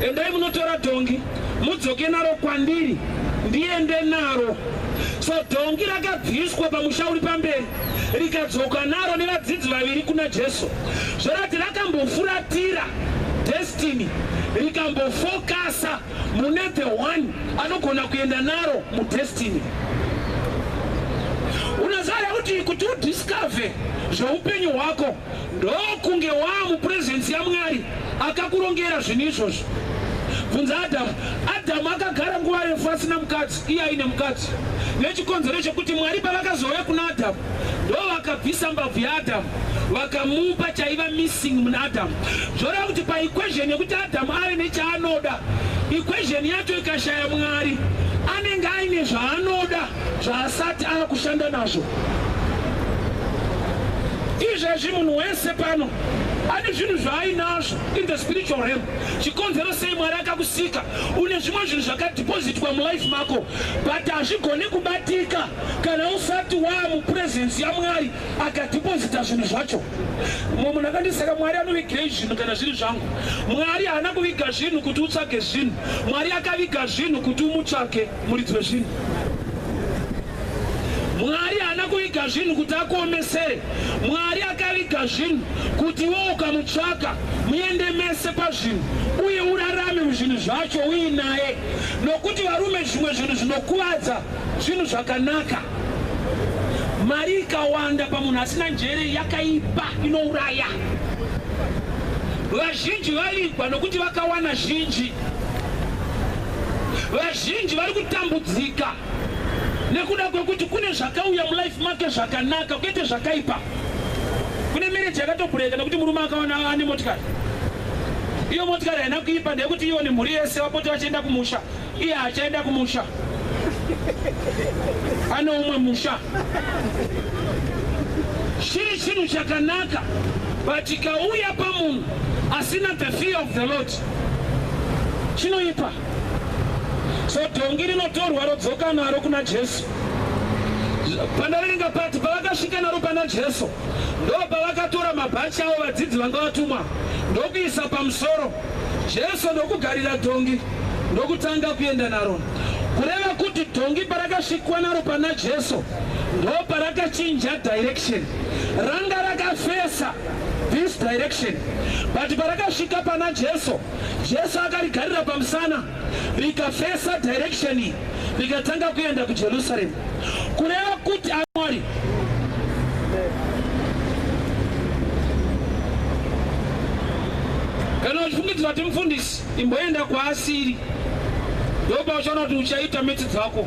endai munotora dhongi mudzoke naro kwandiri ndiende naro so dhongi rakabviswa pamusha uri pamberi rikadzoka naro nevadzidzi vaviri kuna jesu zvorati rakambofuratira destiny rikambofokasa mune the one anogona kuenda naro mudestiny unoziva kuti kuti udiscover zveupenyu hwako ndokunge waa mupresence yamwari akakurongera zvinhu izvozvo bvunza adhamu adhamu akagara nguva refu asina mukadzi iye aine mukadzi nechikonzero chekuti mwari pavakazouya kuna adhamu ndo vakabvisa mbabvu yaadhamu vakamupa chaiva missing muna adhamu zvoreva kuti paequation yekuti adhamu ave nechaanoda equation yacho ikashaya mwari anenge aine zvaanoda zvaasati ava kushanda nazvo izvezvi munhu wese pano ane zvinhu zvaainazvo in the spiritual realm chikonzero sei mwari akakusika une zvimwe zvinhu zvakadhipozitwa mulife mako but hazvigone kubatika kana usati waa mupurezensi yamwari akadhipozita zvinhu zvacho mumwe munhu akandisaka mwari anovigirei zvinhu kana zviri zvangu mwari haana kuviga zvinhu kuti utsvage zvinhu mwari akaviga zvinhu kuti umutsvake Muridzi wezvinhu Mwari haana kuviga zvinhu kuti akuomesere. Mwari akaviga zvinhu kuti iwe ukamutsvaka muende mese pazvinhu uye urarame muzvinhu zvacho uinaye, nokuti varume zvimwe zvinhu zvinokuvadza zvinhu zvakanaka. Mari ikawanda pamunhu asina njere yakaipa inouraya. Vazhinji vavigwa nokuti vakawana zhinji. Vazhinji vari kutambudzika nekuda kwekuti kune zvakauya mulife make zvakanaka kwete zvakaipa. Kune mereji yakatobhureka nekuti murume akaona ane motikari. Iyo motikari haina kuipa ndeyekuti iyo nemhuri yese vapote vachienda kumusha, iye hachaenda kumusha, ane umwe musha. Chiri chinhu chakanaka but ikauya pamunhu asina the fear of the Lord chinoipa so dhongi rinotorwa rodzoka naro kuna jesu pandariringa pati pavakasvika naro pana jesu ndo pavakatora mabhachi avo vadzidzi vanga vatumwa ndokuisa pamusoro jesu ndokugarira dhongi ndokutanga kuenda naro kureva kuti dhongi parakasvikwa naro pana jesu ndo parakachinja direction ranga rakafesa this direction but parakasvika pana jesu jesu akarigarira pamusana rikafesa direction iyi rikatanga kuenda kujerusalem kureva kuti amwari kana uchifungidzira kuti mufundisi imboenda kwaasiri ndopauchaona kuti uchaita mitsi dzako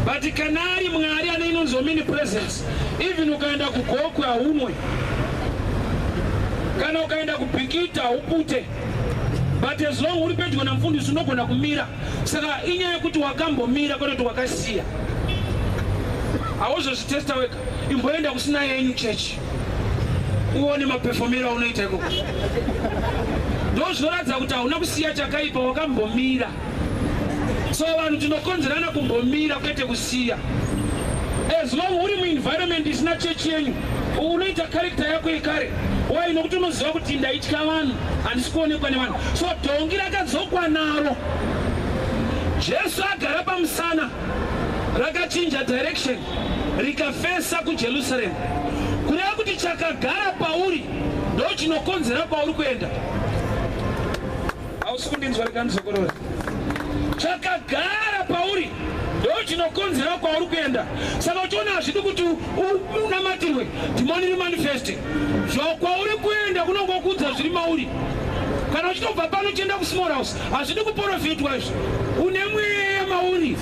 but kana ari mwari ane inonzi omini presence Even ukaenda kugokwe haunwe, kana ukaenda kubhikita haupute, but as long uri pedyo namfundisi unogona kumira. Saka inyaya yekuti wakambomira kwete kuti wakasiya, hauzozvitesta wega. Imboenda kusina yenyu chechi uone mapefomero aunoita ikoko, ndozvinoratidza kuti hauna kusiya chakaipa, wakambomira. so vanhu tinokonzerana kumbomira kwete kusiya as long uri muenvironment isina chechi yenyu unoita karekta yako yekare wai nokuti unoziva kuti ndaitya vanhu handisi kuonekwa nevanhu so dhongi rakadzokwa naro jesu agara pamusana rakachinja direction rikafesa kujerusalemu kureva kuti chakagara pauri ndo chinokonzera kwauri kuenda hausi kundinzwa rega ndizokorora chakagara pauri ndo chinokonzera kwauri kuenda saka uchiona hazvidi kuti unamatirwe dhimoni rimanifeste zvakwauri kuenda kunonga kuudza zviri mauri kana uchitobva pano uchienda kusmall house hazvidi kuporofitwa izvo une mweya mauri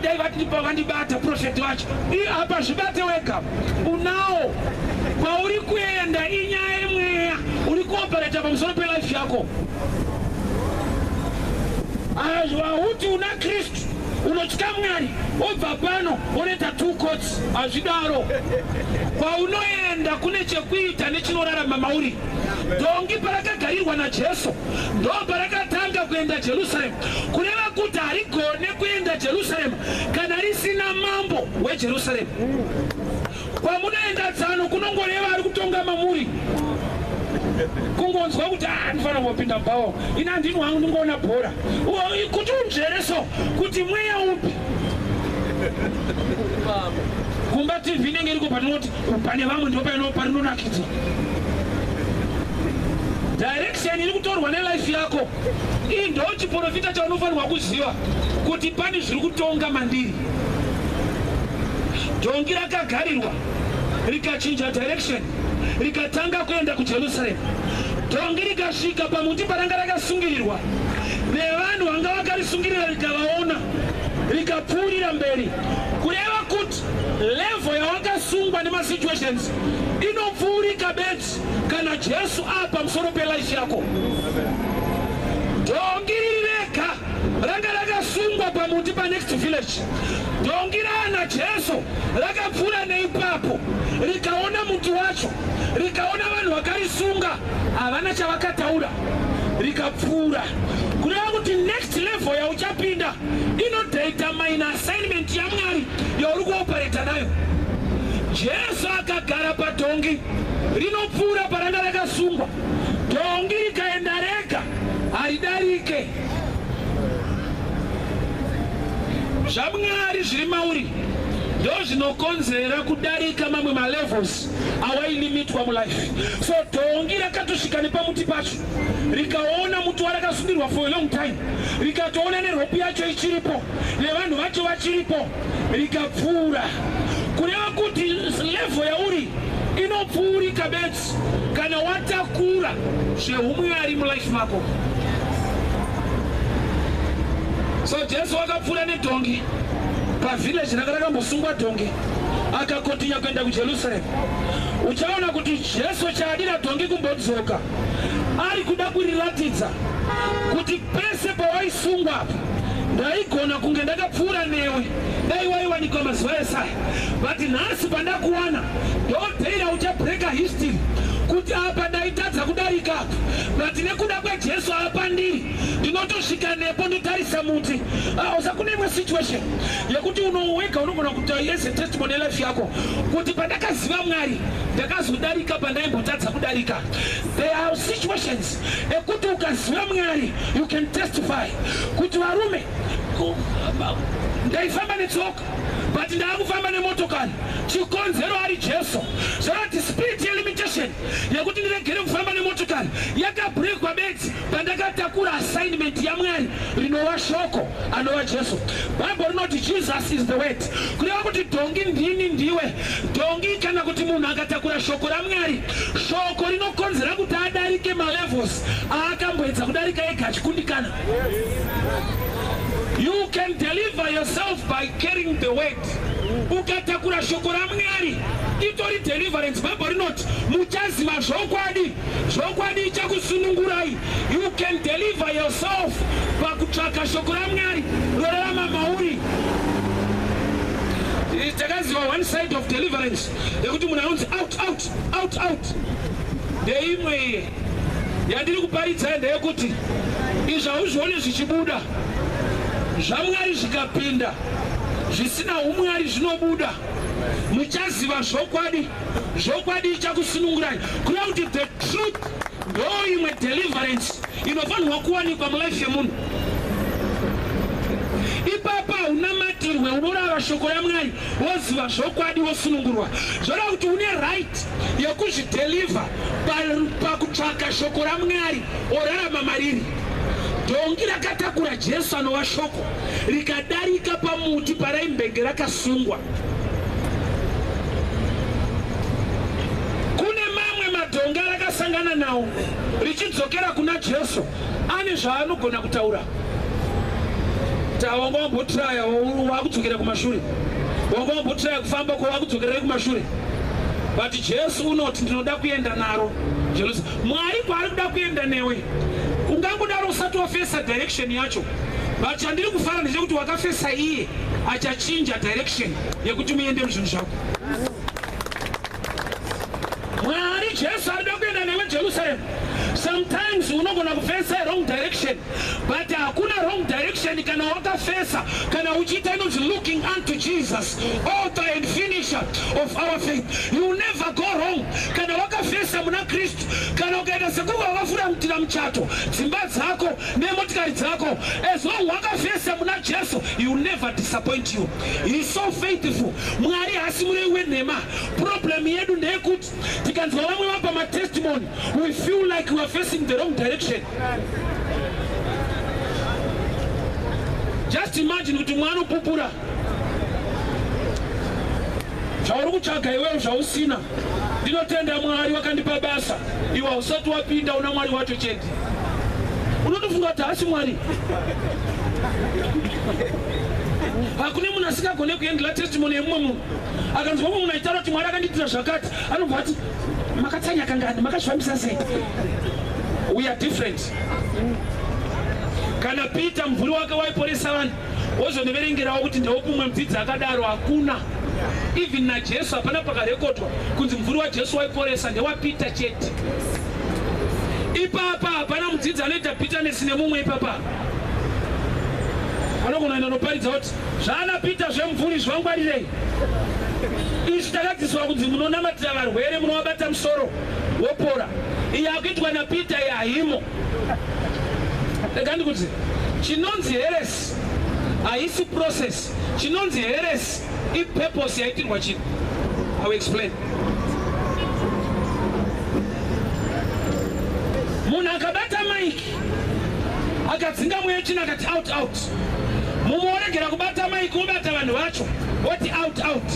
dai vandibata profeti vacho apa zvibate wega unawo kwauri kuenda inyaya yemweya uri kuopereta pamusoro pelife yako hauti una kristu unotya mwari obva pano onoita two cots hazvidaro kwaunoenda kune chekuita nechinorarama mauri dhongi parakagarirwa najesu ndo parakatanga kuenda jerusalem kureva kuti harigone kuenda Jerusalem kana risina mambo weJerusalem. Kwamunoenda tsano kunongoreva ari kutonga mamuri kungonzwa kuti ah, ndifana kupinda bhawa ini andini wangu ndingoona bhora kuti unzvere so kuti mweya upi kumba tv inenge iriko patinoti pane vamwe ndipo paino parinonakidza direction iri kutorwa nelife yako Iyi ndo chiporofita chaunofanirwa kuziva kuti pane zviri kutonga mandiri. Dhongi rakagarirwa rikachinja direction rikatanga kuenda kuJerusarema. Dhongi rikasvika pamuti paranga rakasungirirwa nevanhu vanga vakarisungirira rikavaona rikapfuurira mberi kureva kuti level yawakasungwa nemasituations inopfuurika bedzi Kana Jesu apa musoro pe life yako. Dongi riri rega ranga rakasungwa pamuti pa next village. Dongi raana Jesu rakapfuura neipapo rikaona muti wacho rikaona vanhu vakarisunga havana chavakataura rikapfuura kureva kuti next level yauchapinda inodata main assignment yamwari yauri kuopereta nayo jesu akagara padhongi rinopfuura paranga rakasungwa dhongi rikaenda rega haridarike zvamwari zviri mauri ndozvinokonzera kudarika mamwe malevels awailimitwa mulife so dhongi rakatosvika nepamuti pacho rikaona muti warakasundirwa for a long time rikatoona neropi yacho ichiripo nevanhu vacho vachiripo rikapfuura kureva kuti level yauri inopfuurika bedzi kana watakura zvehumwari mulife mako so jesu wakapfuura nedhongi pavillage ranga rakambosungwa dhongi akakotinya kuenda kujerusalem uchaona kuti jesu chaadira dhongi kumbodzoka ari kuda kuriratidza kuti pese pawaisungwa apa ndaigona kunge ndakapfuura newe dai waiwanikwa mazuva esaya but nhasi pandakuwana ndoteira uchabreaker history kuti apa ndaitadza kudarika apa but nekuda kwejesu apa ndiri ndinotosvika nepo ndotarisa muti ah, usakuneimwe situation yekuti unowega unogona kuita yes a testimony life yako kuti pandakaziva mwari ndakazodarika pandaimbotadza kudarika there are situations ekuti ukaziva mwari you can testify kuti varume ndaifamba netsoka but ndaakufamba nemotokari chikonzero ari jesu zvorati spirit yelimitation yekuti ndiregere kufamba nemotokari yakabrekwa bedzi Pandakatakura assignment yaMwari rinova shoko anova Jesu. Bible rinoti Jesus is the word. Kureva kuti dhongi ndini ndiwe. Dhongi kana kuti munhu akatakura shoko raMwari, shoko rinokonzera kuti adarike malevels aakamboedza kudarika ega achikundikana. You can deliver yourself by carrying the word. Ukatakura shoko raMwari itori deliverance. Bible rinoti muchaziva zvokwadi. Zvokwadi ichakusunungurai. You can deliver yourself pakutsvaka shoko raMwari rorarama mauri. Takaziva one side of deliverance yekuti munhu anonzi out out out out. Ndeimwe iye yandiri kuparidza ndeyekuti izvi hauzvione zvichibuda zvamwari zvikapinda zvisina umwari zvinobuda muchaziva zvokwadi zvokwadi ichakusunungurai crowd the truth ndo imwe deliverance inofanirwa kuwanikwa mulife yemunhu ipapa unamatirwe unorava shoko yamwari woziva zvokwadi wosunungurwa zvoda kuti une right yekuzvideliver pakutsvaka pa shoko ramwari orarama mariri dhongi rakatakura jesu anova shoko rikadarika pamuti paraimbenge rakasungwa. Kune mamwe madhonga rakasangana nawo richidzokera kuna Jesu ane zvaanogona kutaura. Tawanga wambotiraya wakudzokera kumashure, wanga wambotiraya kufamba ko wakudzokerai kumashure but Jesu unoti ndinoda kuenda naro Jerusalem. Mwari kwaari kuda kuenda newe ungangodaro usati wafesa direction yacho. but chandiri kufara ndechekuti wakafesa iye achachinja direction yekuti muende muzvinhu zvako mwari jesu arida kuenda newe jerusalem sometimes unogona kufesa wrong direction but hakuna wrong direction kana wakafesa kana uchiita inonzi looking unto jesus author and finisher of our faith you never go wrong kana wakafesa muna kristu kana ukaita sekuva wafura mutira muchato dzimba dzako nemotikari dzako as long wakavhesa muna jesu he will never disappoint you he is so faithful mwari hasi murei wenhema problem yedu ndeyekuti tikanzwa vamwe vapa matestimony we feel like we are facing the wrong direction just imagine kuti mwana upupura zvauri kutsvaga iwewo zvausina Ndinotenda Mwari wakandipa basa. Iwe hausati wapinda una Mwari wacho chete. Unotofunga kuti haasi Mwari. Hakune munhu asingagone kuendela testimony yemumwe munhu. Akanzwa mumwe munhu aitaura kuti Mwari akandiitira zvakati, anobva ati makatsanya kangani, makazvifambisa sei? We are different. Kana Peter mvuri wake waiporesa vanhu wozondiverengerawo kuti ndeupi umwe mudzidzi akadaro hakuna even najesu hapana pakarekodwa kunzi mvuri wajesu waiporesa ndewapita chete ipapa hapana mudzidzi anoita bitterness nemumwe ipapa anogona enda noparidza kuti zvaana pita zvemvuri zvangwarirei izvi takadzidziswa kunzi munonamatira varwere munovabata musoro wopora iyi akuitwa napita yahimo rega ndikuti chinonzi heresi haisi process chinonzi heresi ipurpose yaitirwa chinhu i will explain munhu akabata mike akadzinga mweya chino akati out out mumwe woregera kubata mike wobata vanhu vacho woti out out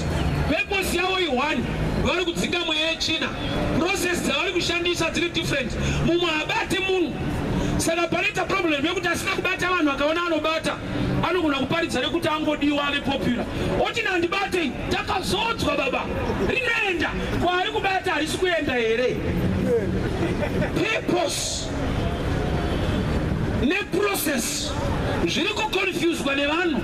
purpose yavo i one vari kudzinga mweya yechina process dzavari kushandisa dziri different mumwe habati munhu saka panoita problem yekuti asina kubata vanhu akaona anobata anogona kuparidza nekuti angodiwa ave popular oti nandibatei takazodzwa baba rinoenda kwaari kubata harisi kuenda here purpose neprocess zviri kuconfuswa nevanhu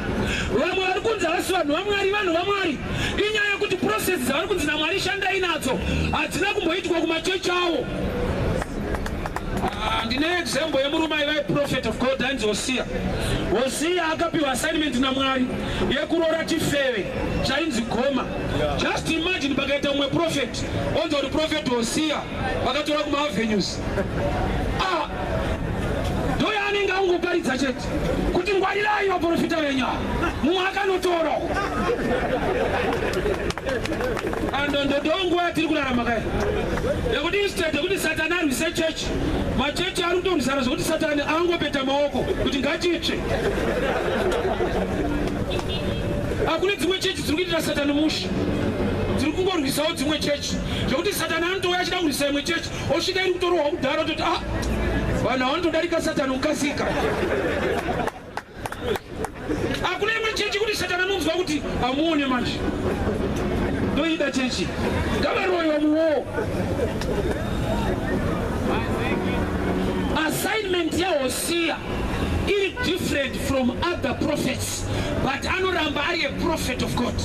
vamwe vari kunzi havasi vanhu vamwari vanhu vamwari Inyaya yekuti process dzavari kunzi naMwari shandai nadzo hadzina kumboitwa kumachechi awo. Ah, ndine example yemurume aiva prophet of God ainzi Hosiya. Hosiya akapiwa assignment naMwari yekuroora chifeve chainzi Goma. Just imagine pakaita mumwe prophet onzi uri prophet Hosiya vakatora kuma avenues. Ah, ndoyaanenge angoparidza chete. kuti ngwarirai vaprofita venyu mumwe akanotoro andondodonguva tiri kurarama kai yekuti instead yekuti satani arwise chechi machechi ari kutorwisana zvekuti satani angopeta maoko kuti ngachitsve hakune dzimwe chechi dziri kuitira satani musha dziri kungorwisawo dzimwe chechi zvekuti satani anotouya achida kurwisa imwe chechi osvika iri kutorohwa kudhara toti a ah, vanhu avanotodarika satani kukasika hakuna imwe chechi kuti satani anonzwa kuti amuone manje ndoida chechi ngavaroyiwa muwoo assignment yahosiya iri different from other prophets but anoramba ari a prophet of God.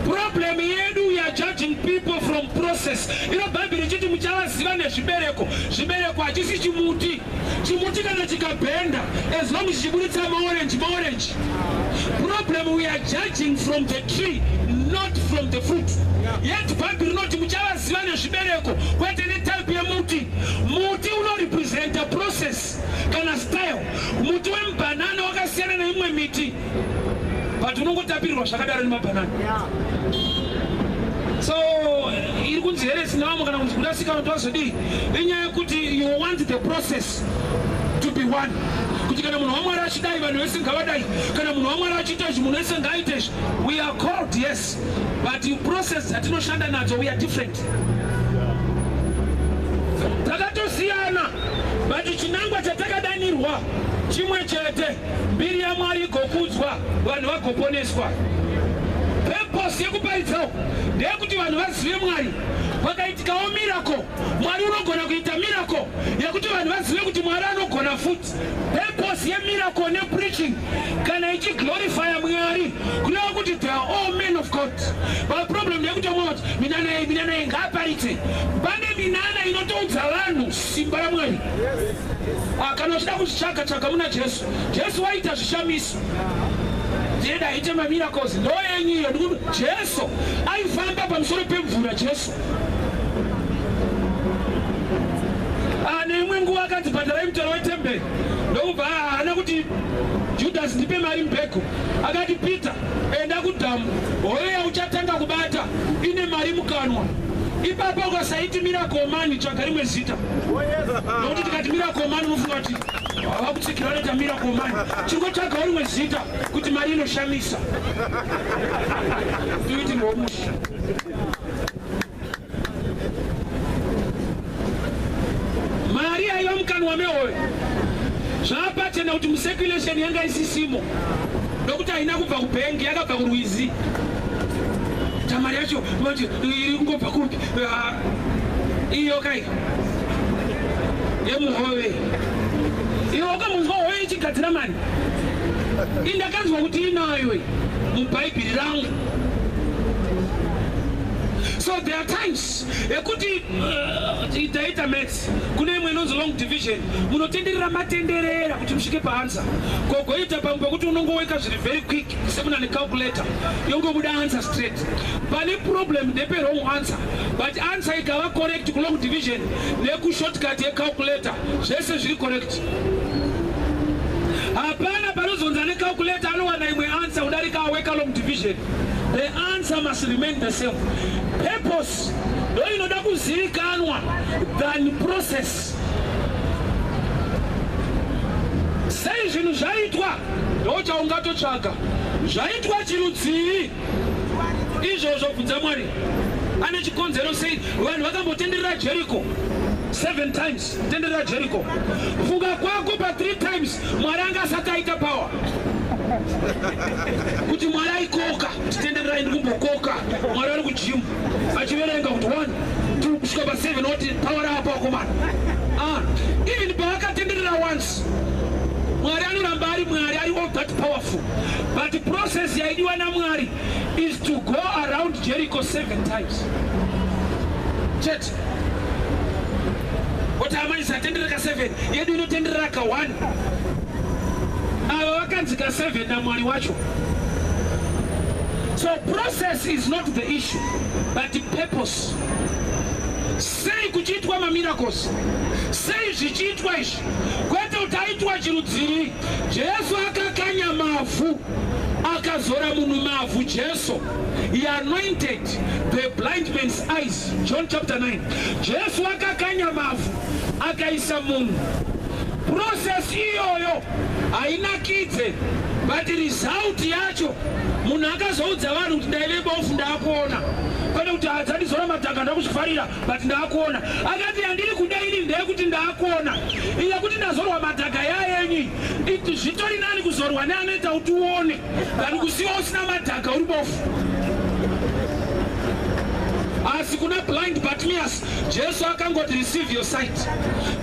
Problem yedu we are judging people from process. Ino Bible richiti muchavaziva nezvibereko. Zvibereko hachisi chimuti. Chimuti kana chikabhenda as long as chiburitsa maorange maorange. Problem we are judging from the tree not from the fruit. Yet Bible rinoti muchavaziva nezvibereko kwete netype yemuti. Muti unorepresenta process. kana style muti wemubhanana wakasiyana neimwe miti but unongotapirirwa zvakadaro nemabhanana so iri kunzi here sinavamo kana kunzi kudasika vanhu vazodii inyaya yekuti you want the process to be one kuti kana munhu wamwari achidai vanhu vese ngavadai kana munhu wamwari achiita izvi munhu wese ngaaite izvi we are called yes but process dzatinoshanda nadzo we are different Takatosiyana but chinangwa chatakadanirwa chimwe chete, mbiri yaMwari igokudzwa, vanhu vagoponeswa. Purpose yekuparidzawo ndeyekuti vanhu vazive Mwari. Pakaitikawo miracle, Mwari unogona kuita miracle yekuti vanhu vazive kuti Mwari anogona futi. Purpose yemiracle nepreaching kana ichiglorifya Mwari kureva kuti they are all men of God. But problem ndeyekuti vamwe vati minana yei minana yei ngaaparitse. Pane minana inotoudza vanhu simba raMwari. Ah, kana uchida kuzvitsvaga tsvaga muna Jesu. Jesu waita zvishamiso deda ite mamiracles ndo yenyu iyo jesu aifamba pamusoro pemvura jesu Ane imwe nguva akanzi bhadharai mutero wetemberi ndokubva haana kuti Judhasi ndipe mari mbheko. Akati Peter enda kudhamu hoyo yauchatanga kubata ine mari mukanwa. Ipapo ukasaiti miracle man tsvaga rimwe zita. Nokuti tikati miracle man unofunga kuti hava kutsikira vanoita miracle man. Chiri kutsvagawo rimwe zita kuti mari inoshamisa. Tuiti ngomusha. mari yaiva mukanwa mehoyo zvaapachena kuti museculation yanga isisimo nokuti haina kubva kubhengi yakabva kurwizi tamari yacho mati iri kungobva kupi ah, iyo kai yemuhove iwe wakamunzwa hoyo ichigadzira mari indakanzwa kuti inayo mubhaibheri rangu so there are times ekuti uh, taita maths kune imwe inonzi long division munotenderera matenderera kuti musvike paansa kogoita pamwe pakuti unongoweka zviri very quick sekuna necalculator yongobuda answer straight pane problem ndepe wrong answer but answer ikava correct kulong division nekushortcut yecalculator zvese zviri correct Hapana panozonzi ane calculator anowana imwe answer kudarika awekalom division. The answer must remain the same. Purpose ndo inoda kuzivikanwa than process. Sei zvinhu zvaitwa ndochaungatotsvaga zvaitwa chirudzii izvozvo bvunza mwari ane chikonzero sei vanhu vakambotenderera jeriko seven times Tende ra Jericho. Funga kwako pa three times Mwari anga asati aita power. Kuti Mwari aikoka, tende ra ndi kumbokoka. Mwari ari ku gym. Achiverenga kuti 1 2 kusvika pa 7 oti power apa koma. Ah, even pa akatenderera once. Mwari anoramba ari Mwari ari all that powerful. But the process yaidiwa na Mwari is to go around Jericho seven times. Chet. Kuti amai satendera ka 7 yedu inotenderera ka 1 ava vakanzi ka 7 namwari wacho so process is not the issue but purpose sei kuchiitwa mamiracles sei zvichiitwa izvi kwete kuti aitwa chirudziri jesu akakanya mavhu akazora munhu mavhu jesu he anointed The blind man's eyes, John chapter 9. Jesu akakanya mavhu akaisa munhu. Process iyoyo hainakidze but result yacho munhu akazoudza vanhu kuti ndaive bofu ndakuona kwete kuti hadzandizora madhaka ndakuzvifarira but ndakuona akati yandiri kuda ini ndeyekuti ndakuona yekuti ndazorwa madhaka yayenyi zvitori nani kuzorwa neanoita kuti uone Kana kusiwa usina madhaka uri bofu. Asi kuna blind Bartimaeus Jesu akangoti receive your sight.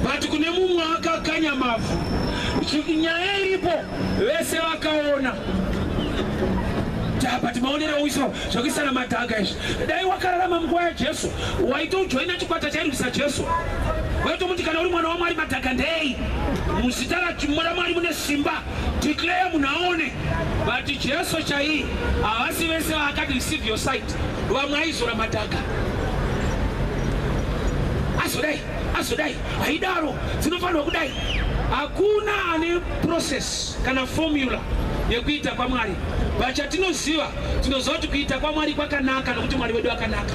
But kune mumwe akakanya mavhu. Nyaya iripo vese vakaona. But maonero uiso zvekuisana madhaka izvi. Dai wakararama munguva yaJesu waitojoina chikwata chairwisa Jesu. Waitomuti kana uri mwana waMwari madhaka ndei. Muzita raMwari mune simba. Declare munhu aone vati Jesu chaiye havasi vese vaakati receive your sight vamwe aizora madhaka azodai azodai haidaro dzinofanirwa kudai hakuna ane process kana formula yekuita kwamwari vachatinoziva tinoziva kuti kuita kwamwari kwakanaka nokuti mwari wedu akanaka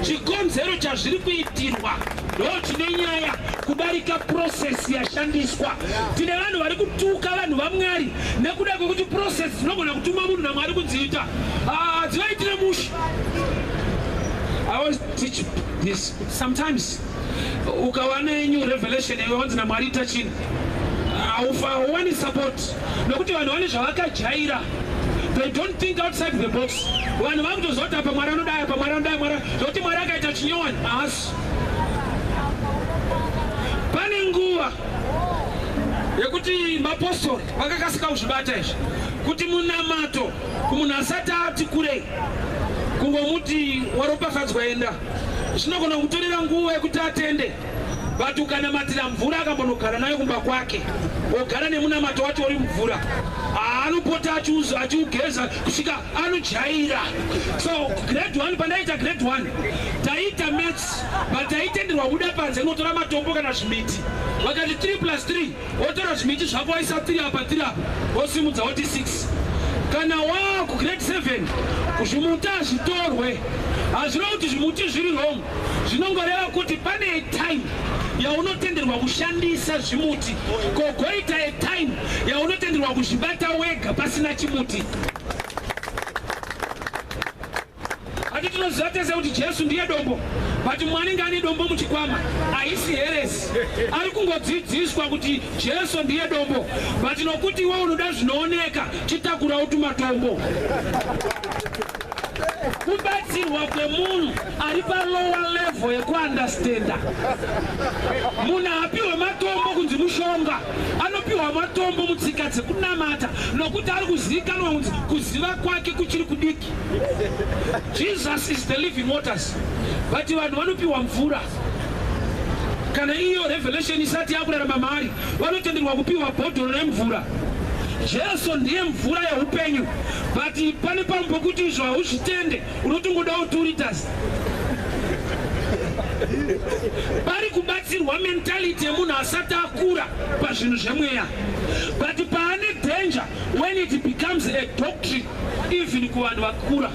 chikonzero chazviri kuitirwa ndo chine nyaya kudarika process yashandiswa Tine vanhu vari kutuka vanhu vaMwari nekuda kwekuti process dzinogona kutumwa munhu naMwari kudziita hadzivaitire ah, mushe. I always teach this. Sometimes ukawana new revelation yawanzi naMwari ita chini hauwani support nokuti vanhu vane zvavakajaira they don't think outside the box vanhu vakutozoti apa mwari anodai apa mwari anodai mwari zvokuti mwari akaita chinyowani haasi yekuti mapostori vakakasika kuzvibata izvi kuti munamato kumunhu asati ati kurei kungomuti waropafadzwa enda zvinogona kutorera nguva yekuti atende but ukanamatira mvura akambonogara nayo kumba kwake ogara nemunamato wacho uri mvura anopota achiugeza kusvika anojaira so grade one pandaiita grade one taiita pataitenderwa kubuda panze kunotora matombo kana zvimiti vakati 3 plus 3 wotora zvimiti zvako waisa 3 apa 3 apa wosimudza woti 6 kana waa kugrade 7 zvimuti hazvitorwe hazviro kuti zvimuti zviri wrong zvinongoreva kuti pane time yaunotenderwa kushandisa zvimuti kogoita time yaunotenderwa kuzvibata wega pasina chimuti Ati tinoziva tese kuti Jesu ndiye dombo but mwanenge ane dombo muchikwama haisi heresi ari kungodzidziswa kuti Jesu ndiye dombo but nokuti iwe unoda zvinooneka chitakura utumatombo kubatsirwa kwemunhu ari palowa level yekuandastenda munhu haapiwe matombo kunzi mushonga anopiwa matombo mutsika dzekunamata nokuti ari kuzivikanwa kunzi kuziva kwake kuchiri kudiki Jesus is the living waters but vanhu vanopiwa mvura kana iyo revelation isati yakurarama maari vanotenderwa kupiwa bhodhoro remvura jesu ndiye mvura yeupenyu but pane pamwe pokuti izvo hauzvitende unotongodawo two liters pari kubatsirwa mentality yemunhu asati akura pazvinhu zvemweya but paane danger when it becomes a doctrine even kuvanhu vakura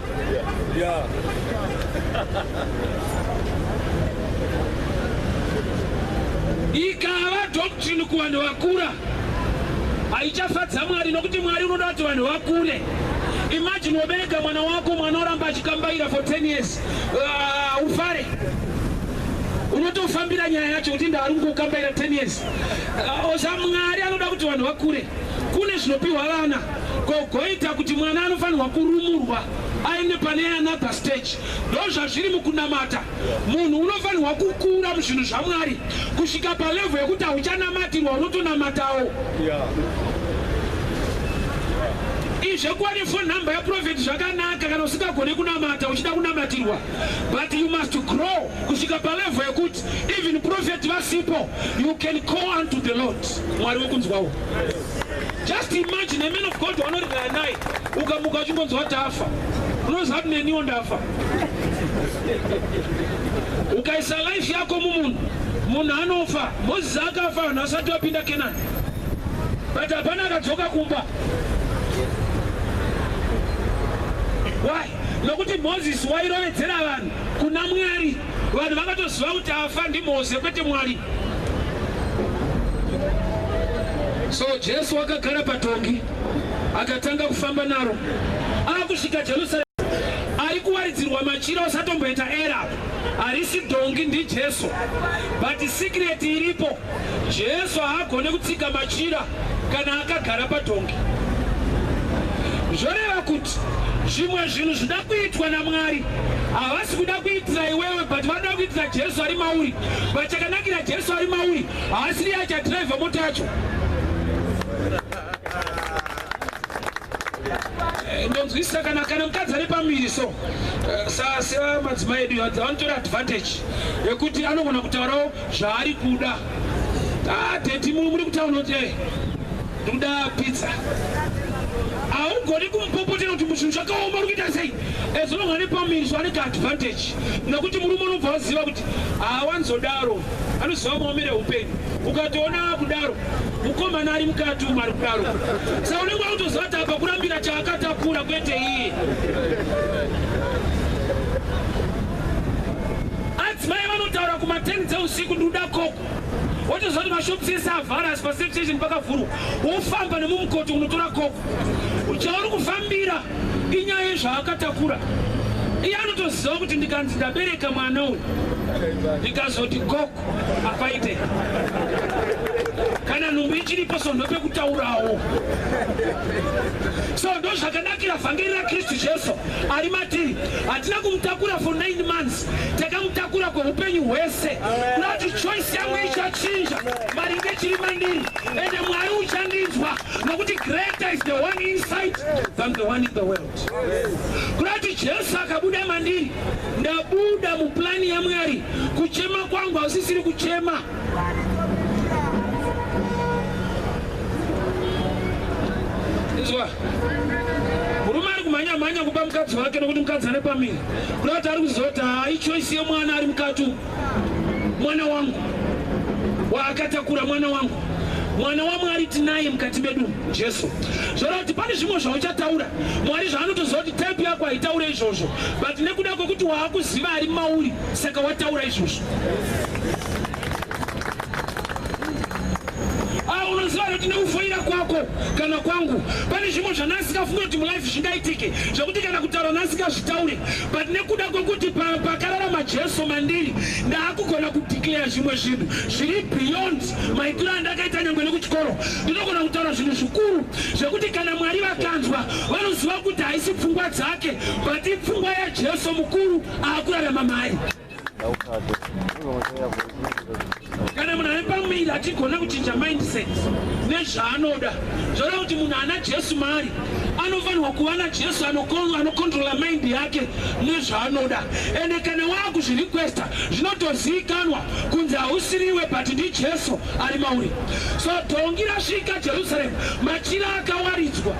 ikava doctrine kuvanhu vakura haichafadza mwari nokuti mwari unoda kuti vanhu vakure imagine wabereka mwana wako mwana oramba achikambaira for 10 years uh, ufare unotofambira nyaya yacho kuti ndaari kungokambaira 10 years uh, osa mwari anoda kuti vanhu vakure Kune zvinopiwa vana kogoita kuti mwana anofanirwa kurumurwa aende pane another stage. Ndo zvazviri mukunamata. Munhu unofanirwa kukura muzvinhu zvaMwari kusvika palevel yekuti hauchanamatirwa unotonamatawo. Yeah. Zvekuva nefoni nhamba yaprofeti zvakanaka kana usingagone kunamata uchida kunamatirwa but you must grow kusvika palevel yekuti even prophet vasipo you can call unto the lord mwari wekunzwawo just imagine a man of god wanoririra naye ukamuka uchingonzwa kuti afa unoziva kuti neniwo ndafa ukaisa life yako mumunhu munhu anofa moses akafa vanhu vasati vapinda kenani but hapana akadzoka kumba why nokuti moses wairovedzera vanhu kuna mwari Vanhu vakatoziva kuti afa ndiMoze kwete Mwari. So Jesu wakagara patongi akatanga kufamba naro akusvika Jerusalem ari kuwaridzirwa machira usatomboita era harisi dongi ndiJesu but secret iripo Jesu haagone kutsika machira kana akagara padhongi. Zvoreva kuti zvimwe zvinhu zvida kuitwa naMwari havasi kuda kuitira iwewe but vanoda kuitira Jesu ari mauri. But chakanakira Jesu ari mauri haasi riye achadhiraivha mota yacho. Eh, ndonzwisisa kana kana mukadzi ari pamiri so eh, sasa madzimai edu vanotora advantage yekuti anogona kutaurawo zvaari kuda ah, teti muri kutaura kuti eh, ndoda pizza haugoni kumupopotera kuti muzvinhu zvakaoma uri kuita sei ezononga ane pamiri zvaanenge advantage nekuti murume unobva waziva kuti haawanzodaro anoziva maomere upenyu ukatoona kudaro mukomana ari mukati umu ari kudaro sa unenge wakutoziva kuti apa kurambira chaakatakura kwete iye Adzimai vanotaura kuma 10 dzeusiku ndikuda koko wotoziva kuti mashops ese avhara asi pasafe station pakavhurwa wofamba nemumukoti unotora koko chauri kufambira inyaya yezvaakatakura iye anotoziva kuti ndikanzi ndabereka mwana uyu ndikazoti koko Apaite kana nhumbu ichiripo so ndopekutaurawo so ndo zvakanakira vhangeri rakristu jesu ari matiri hatina kumutakura for 9 months takamutakura kweupenyu hwese kuti choice yangu ichachinja maringe chiri mandiri ende mwari uchandinzwa nokuti greater is the one inside than the one in the world Kurati Jesu akabuda mandiri, ndabuda muplani yaMwari. Kuchema kwangu hausisiri kuchema izwa murume ari kumhanya mhanya kupa mukadzi wake nokuti mukadzi ane pamiri kurati ari kuziva kuti haa ichoisi yemwana ari mukati umu mwana wangu waakatakura mwana wangu mwana wamwari tinaye mukati medu jesu zvoreva kuti pane zvimwe zvauchataura mwari zvaanotoziva kuti type yako haitaure izvozvo but nekuda kwekuti waakuziva ari mauri saka wataura izvozvo ah, unoziva kuti nekufoira kwako kana kwangu pane zvimwe zvanaasikafunga kuti mulife zvingaitike zvekuti kana kutaura naasingazvitaure but nekuda kwekuti pakararama jesu mandiri ndaakugona kudeclare zvimwe zvinhu zviri beyond maitiro andakaita nyangwe nekuchikoro ndinogona kutaura zvinhu zvikuru zvekuti kana mwari vakanzwa vanoziva kuti haisi pfungwa dzake but ipfungwa yajesu mukuru aakurarama mari kana munhu ane pamuviri achigona kuchinja mindset nezvaanoda zvoreva kuti munhu ana jesu maari anofanirwa kuva najesu anokontrola mind yake nezvaanoda ende kana waakuzvirequesta zvinotozivikanwa kunzi hausiriwe but ndijesu ari mauri so dhongi rasvika jerusaremu machira akawaridzwa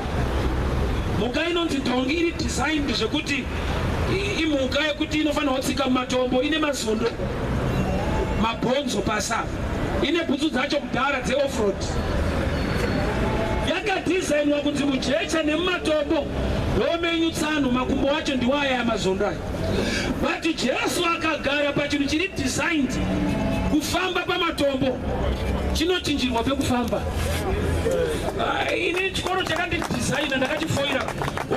mhuka inonzi dhongi iri designed zvekuti imhuka yekuti inofanirwa kutsika mumatombo ine mazondo mabhonzo pasa ine bhutsu dzacho kudhara dzeoffroad yakadhizainwa kunzi mujecha nemumatombo homenyu tsano makumbo wacho ndiwaya yamazondo ayo but jesu akagara pachinhu chiri designed kufamba pamatombo chinochinjirwa pekufamba ah, ini chikoro chakandidhizaina ndakachifoira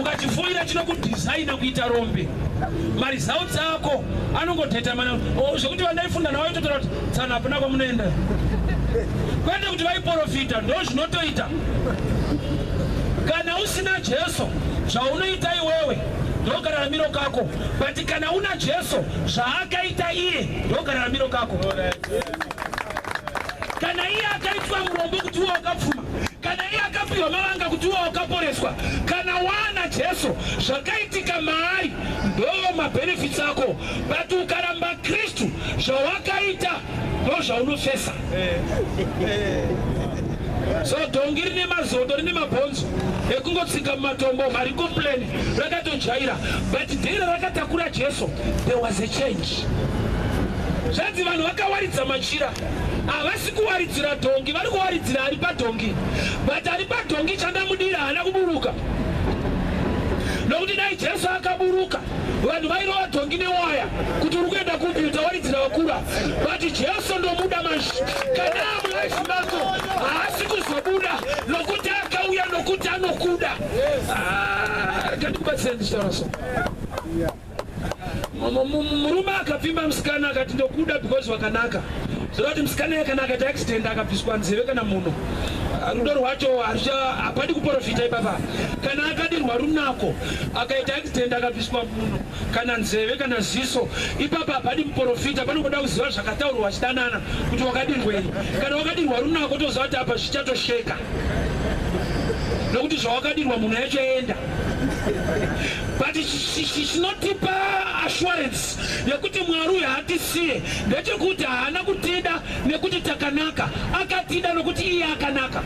ukachifoira chinokudhizaina kuita rombe maresults ako anongotetamana oh, zvekuti vandaifunda navo itotora kuti tsana hapana kwamunoenda kwete kuti vaiporofita ndo zvinotoita kana usina jesu zvaunoita iwewe ndokararamiro kako but kana una jesu zvaakaita iye ndokararamiro kako kana iye akaitwa murombo kuti iwe wakapfuma kana iye akapiwa mavanga kuti iwe wakaporeswa kana waana jesu zvakaitika maari ndoo mabenefits ako but ukaramba kristu zvawakaita ndo zvaunofesa so dhongi rine mazondo rine mabhonzo ekungotsika mumatombo marikoplani rakatojaira but dhiri rakatakura jesu there was a change zvanzi vanhu vakawaridza machira Havasi kuwaridzira dhongi, vari kuwaridzira ari padhongi. But ari padhongi chandamudira haana kuburuka. Nokuti dai Jesu akaburuka, vanhu vairova dhongi newaya kuti uri kuenda kupi utawaridzira vakura. But Jesu ndomuda manje. Kana mulaisi mako haasi kuzobuda nokuti akauya nokuti anokuda. Ah, Kandikubatsire ndichitaura so. murume akapfimba musikana akati ndokuda because wakanaka zvoreva kuti musikana yakana akaita accident akabviswa nzeve kana muno rudo rwacho hapadi kuporofita ipapa kana akadirwa runako akaita accident akabviswa muno kana nzeve kana ziso ipapa hapadi muporofita panogoda kuziva zvakataurwa vachidanana kuti wakadirwei kana wakadirwa runako toziva kuti apa zvichatosheka nokuti zvawakadirwa munhu yachoenda but chinotipa assurance yekuti mwari uyu haatisiye ndechekuti haana kutida nekuti takanaka akatida nokuti iye akanaka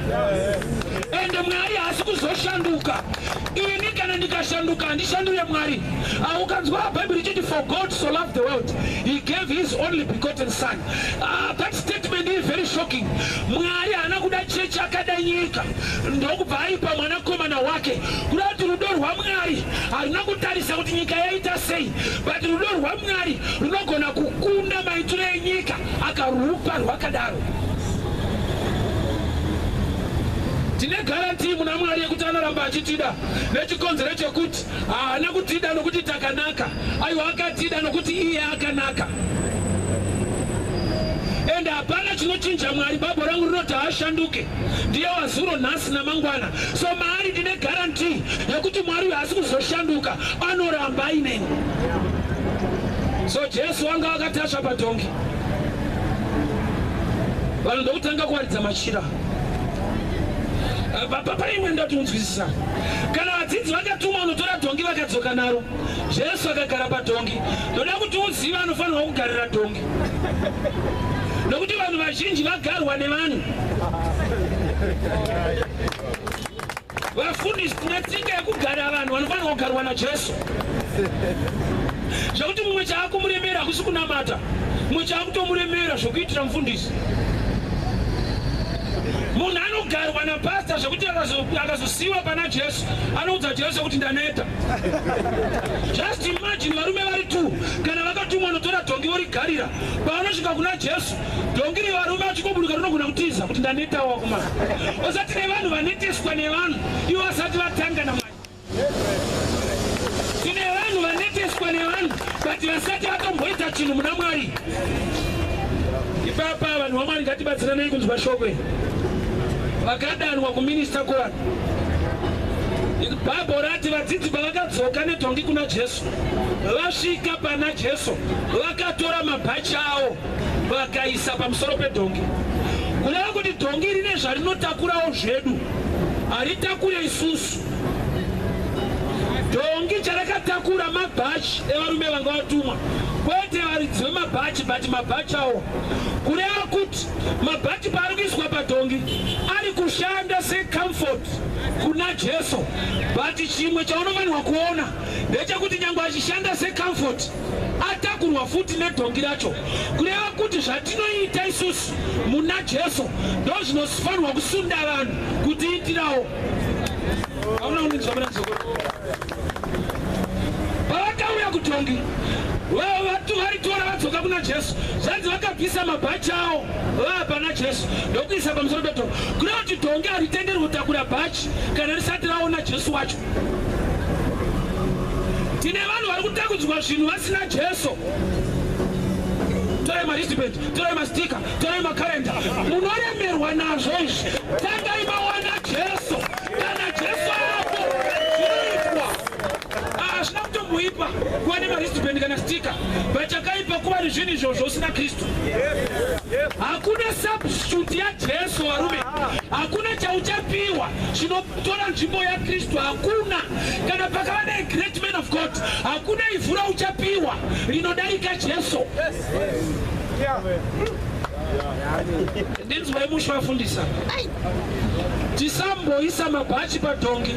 ende mwari haasi kuzoshanduka ini kana ndikashanduka handishandure mwari aukanzwa bhaibheri chiti for god so love the world he gave his only begotten son Ah, that statement is very shocking. Mwari haana kuda chechi akada nyika ndokubva aipa mwanakomana wake kuda kuti rudo rwaMwari haruna kutarisa kuti nyika yaita sei but rudo rwaMwari runogona kukunda maitiro enyika akarupa rwakadaro. Tine garantii muna Mwari yekuti anoramba achitida nechikonzero chekuti Haana kutida nokuti takanaka, aiwa, akatida nokuti iye akanaka. Ende hapana chinochinja Mwari. Babo rangu rinoti haashanduke, ndiye wazuro, nhasi namangwana. So maari ndine guarantee yekuti Mwari uyu haasi kuzoshanduka, anoramba aineni. So Jesu wanga akatasva padhongi, vanhu ndokutanga kuwaridza machira. paimwe ndati unzwisisa kana vadzidzi vakatumwa unotora dhongi vakadzoka naro jesu akagara padhongi ndoda kuti uziva anofanirwa kugarira dhongi nokuti vanhu vazhinji vagarwa nevanhu Vafundisi, tine tsika yekugara vanhu vanofanirwa kugarwa naJesu zvekuti mumwe chaakumuremera hakusi kunamata mumwe chaakutomuremera zvekuitira mufundisi munhu anogarwa napasta zvekuti akazosiyiwa pana jesu anoudza jesu kuti ndaneta just imagine varume vari two kana vakatumwa notora dhongi vorigarira pavanosvika kuna jesu Dongi revarume achikoburuka rinogona kutiza kuti ndanetawo wakomana. Usati nevanhu vaneteswa nevanhu ivo vasati vatanga namwari. Tine vanhu vaneteswa nevanhu but vasati vatomboita chinhu muna mwari. Ipapa vanhu vamwari ngatibatsiranei kunzwa shoko iri. Vakadanwa kuminista kuvanhu. Bhabho rati vadzidzi pavakadzoka nedhongi kuna Jesu, vasvika pana Jesu vakatora mabhachi awo vakaisa pamusoro pedhongi kureva kuti dhongi rine zvarinotakurawo zvedu haritakure isusu dhongi charakatakura mabhachi evarume vanga vatumwa kwete varidzi vemabhachi but mabhachi awo kureva kuti mabhachi paari kuiswa padhongi ari kushanda secomfort kuna jesu but chimwe chaunofanirwa kuona ndechekuti nyange achishanda secomfort atakurwa futi nedhongi racho kureva kuti zvatinoita isusu muna jesu ndozvinofanirwa kusunda vanhu kutiitirawo pavakauya kudhongi varitora vadzoka kuna jesu zvanzi vakabvisa mabhachi awo vaapana jesu ndokuisa pamusoro pedhongi kureva kuti dhongi haritenderwe kutakura bhachi kana risati raona jesu wacho tine vanhu vari kutakudzwa zvinhu vasina jesu torai maristiband torai mastika torai makarenda munoremerwa nazvo izvi tangai mawana jesu kana jesu apo zvinoitwa hazvina ah, kutomboipa kuva nemaristiband kana stika but chakaipa kuva nezvinhu izvozvo usina kristu hakuna substitute yajesu varume hakuna chauchapiwa chino Tora nzvimbo yaKristu hakuna kana pakava ne great man of God hakuna ivhu rauchapiwa rinodarika Jesu. Ndinzwai musha wafundisa. Tisamboisa mabhachi padhongi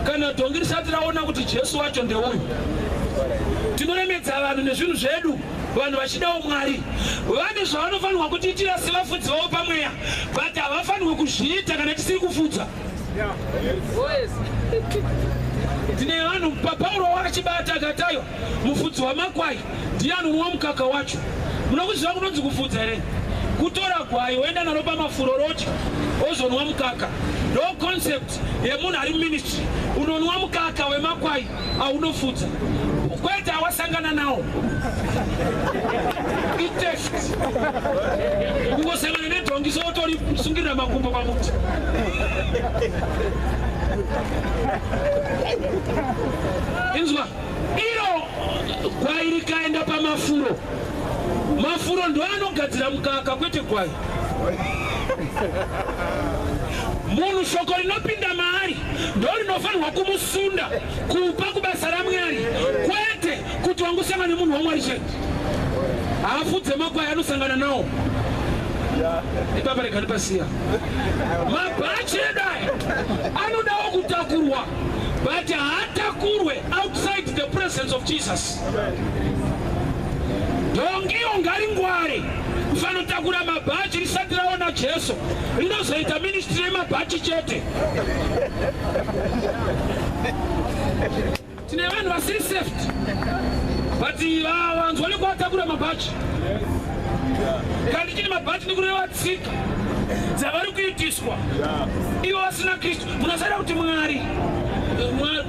kana dhongi risati raona kuti Jesu wacho ndeuyu. Tinoremedza vanhu nezvinhu zvedu vanhu vachidawo mwari vane zvavanofanirwa kutiitira sevafudzi vavo pamweya but havafanirwe kuzviita kana tisiri kufudza tine vanhu papauro wakachibata akatayo mufudzi wamakwai ndiye anonwa mukaka wacho munokuziva kunonzi kufudza here kutora gwai woenda naro pamafuroroti ozonwa mukaka no concept yemunhu ari muministry unonwa mukaka wemakwai aunofudza kwete awasangana nawo iteft kungosangana nedhongi sotori sungirira makumbo pamuti inzwa iro gwai rikaenda pamafuro mafuro ndo anogadzira mukaka kwete gwai munhu shoko rinopinda maari ndorinofanirwa kumusunda kupa kubasa ramwari kwete kuti wangosangana nemunhu wamwari chete hafu dzemakwai anosangana nawo ipapa regani pasiya mabhachi edu aya anodawo kutakurwa but haatakurwe outside the presence of jesus dhongiyo ngaringware kufanotakura mabhachi risati raona jesu rinozoita ministri yemabhachi chete tine vanhu vasiri safety but vanzwa nekuvatakura mabhachi kandi chine mabhachi nekureva tsika dzavari kuitiswa ivo vasina kristu munasaira kuti mwari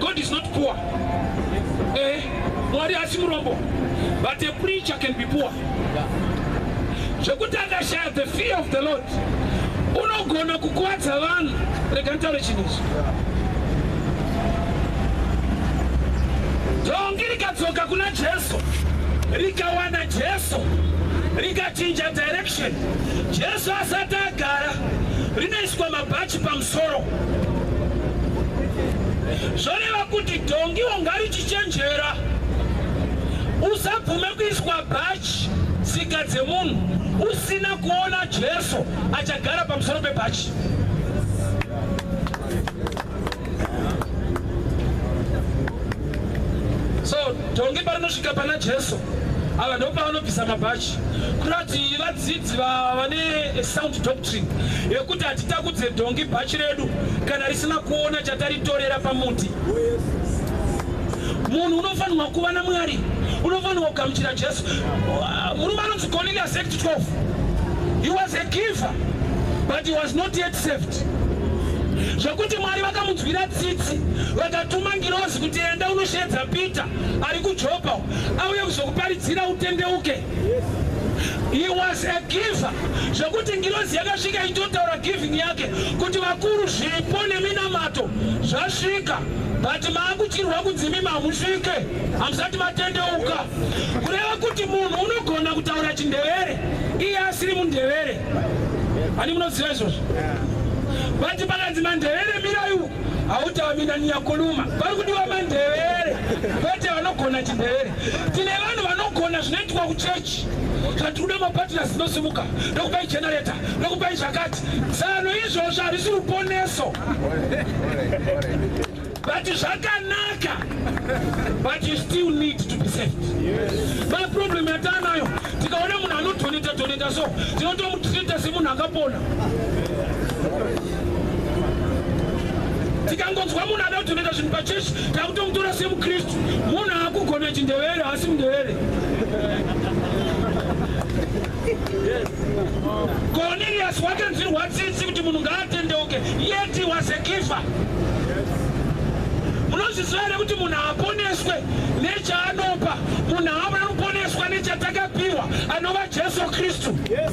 god is not poor eh, mwari asi murombo but a preacher can be poor zvekuti akashaya the fear of the lord unogona kukwadza vanhu rega ntaure chinhu ichi dhongi rikadzoka kuna jesu rikawana jesu rikachinja direction jesu asati agara rinoiswa mabhachi pamusoro zvoreva kuti dhongiwo ngarichichenjera usabvume kuiswa bhachi tsika dzemunhu Asina kuona Jesu achagara pamusoro pebhachi. So tonge parinosvika pana Jesu ava ndopavanobvisa mabhachi kurati vadzidzi vane sound doctrine yekuti hatitakudze dhongi bhachi redu kana risina kuona chataritorera pamuti munhu unofanirwa kuva namwari unofanirwa kugamuchira jesu Murume anonzi Cornelius Act 12. He was a giver but he was not yet saved. Zvekuti Mwari vakamunzwira tsitsi vakatuma ngirozi kuti enda unosheedza Peter ari kuJopa auye kuzokuparidzira utendeuke. He was a giver zvekuti ngirozi yakasvika itotaura giving yake kuti vakuru zvipo neminamato zvasvika but maakutirwa kunzi mimi hamusvike. Hamsati vatendeuka kureva kuti munhu unogona kutaura chindevere iye asiri mundevere ani munoziva izvozvo vati pakanzi mandevere mirayu hautawaminaniya kuluma vari kudiwa mandevere vati vanogona chindevere tine vanhu vanogona zvinoitwa kuchechi zvati kuda mapatina zinosimuka ndokupai generata ndokupai zvakati zano izvozvo harisi ruponeso But zvakanaka but you still need to be saved. Yes. But problem yatanayo tikaona munhu anodoneta doneta so tinotomutreata semunhu akapona. Tikangonzwa munhu ada kudoneta zvinhu pachechi takutomutora semuKristu. Munhu akugona chindevere asi mundevere. Cornelius wakanzwirwa tsitsi kuti munhu ngaatendeuke yet he was a giver. Munozviziva here kuti munhu haaponeswe nechaanopa, munhu haamana kuponeswa nechatakapiwa anova Jesu Kristu. Yes.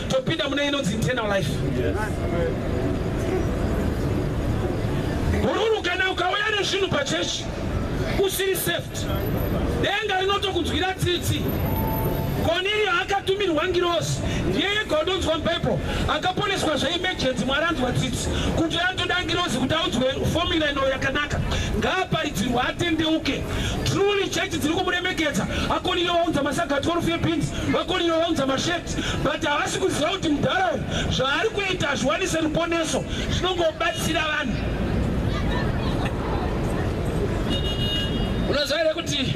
topinda mune inonzi internal life hururu kana ukauya nezvinhu pachechi usiri safety denga rinotokunzwira tsitsi koniriyo akatumirwa ngirosi ndiye yega unonzwa mhepo akaponeswa zveimejenti mwari anzwa tsitsi kuti anotoda ngirosi kuti aunzwe fomula ino yakanaka ngaaparidzirwa atendeuke truly chechi dziri kumuremekedza akoniriyo vaunza masagati orufu ebhinzi vakoniriyo vaunza masheti but havasi kuziva kuti mudhara uyu zvaari kuita hazviwanise ruponeso zvinongobatsira vanhu unoziva here kuti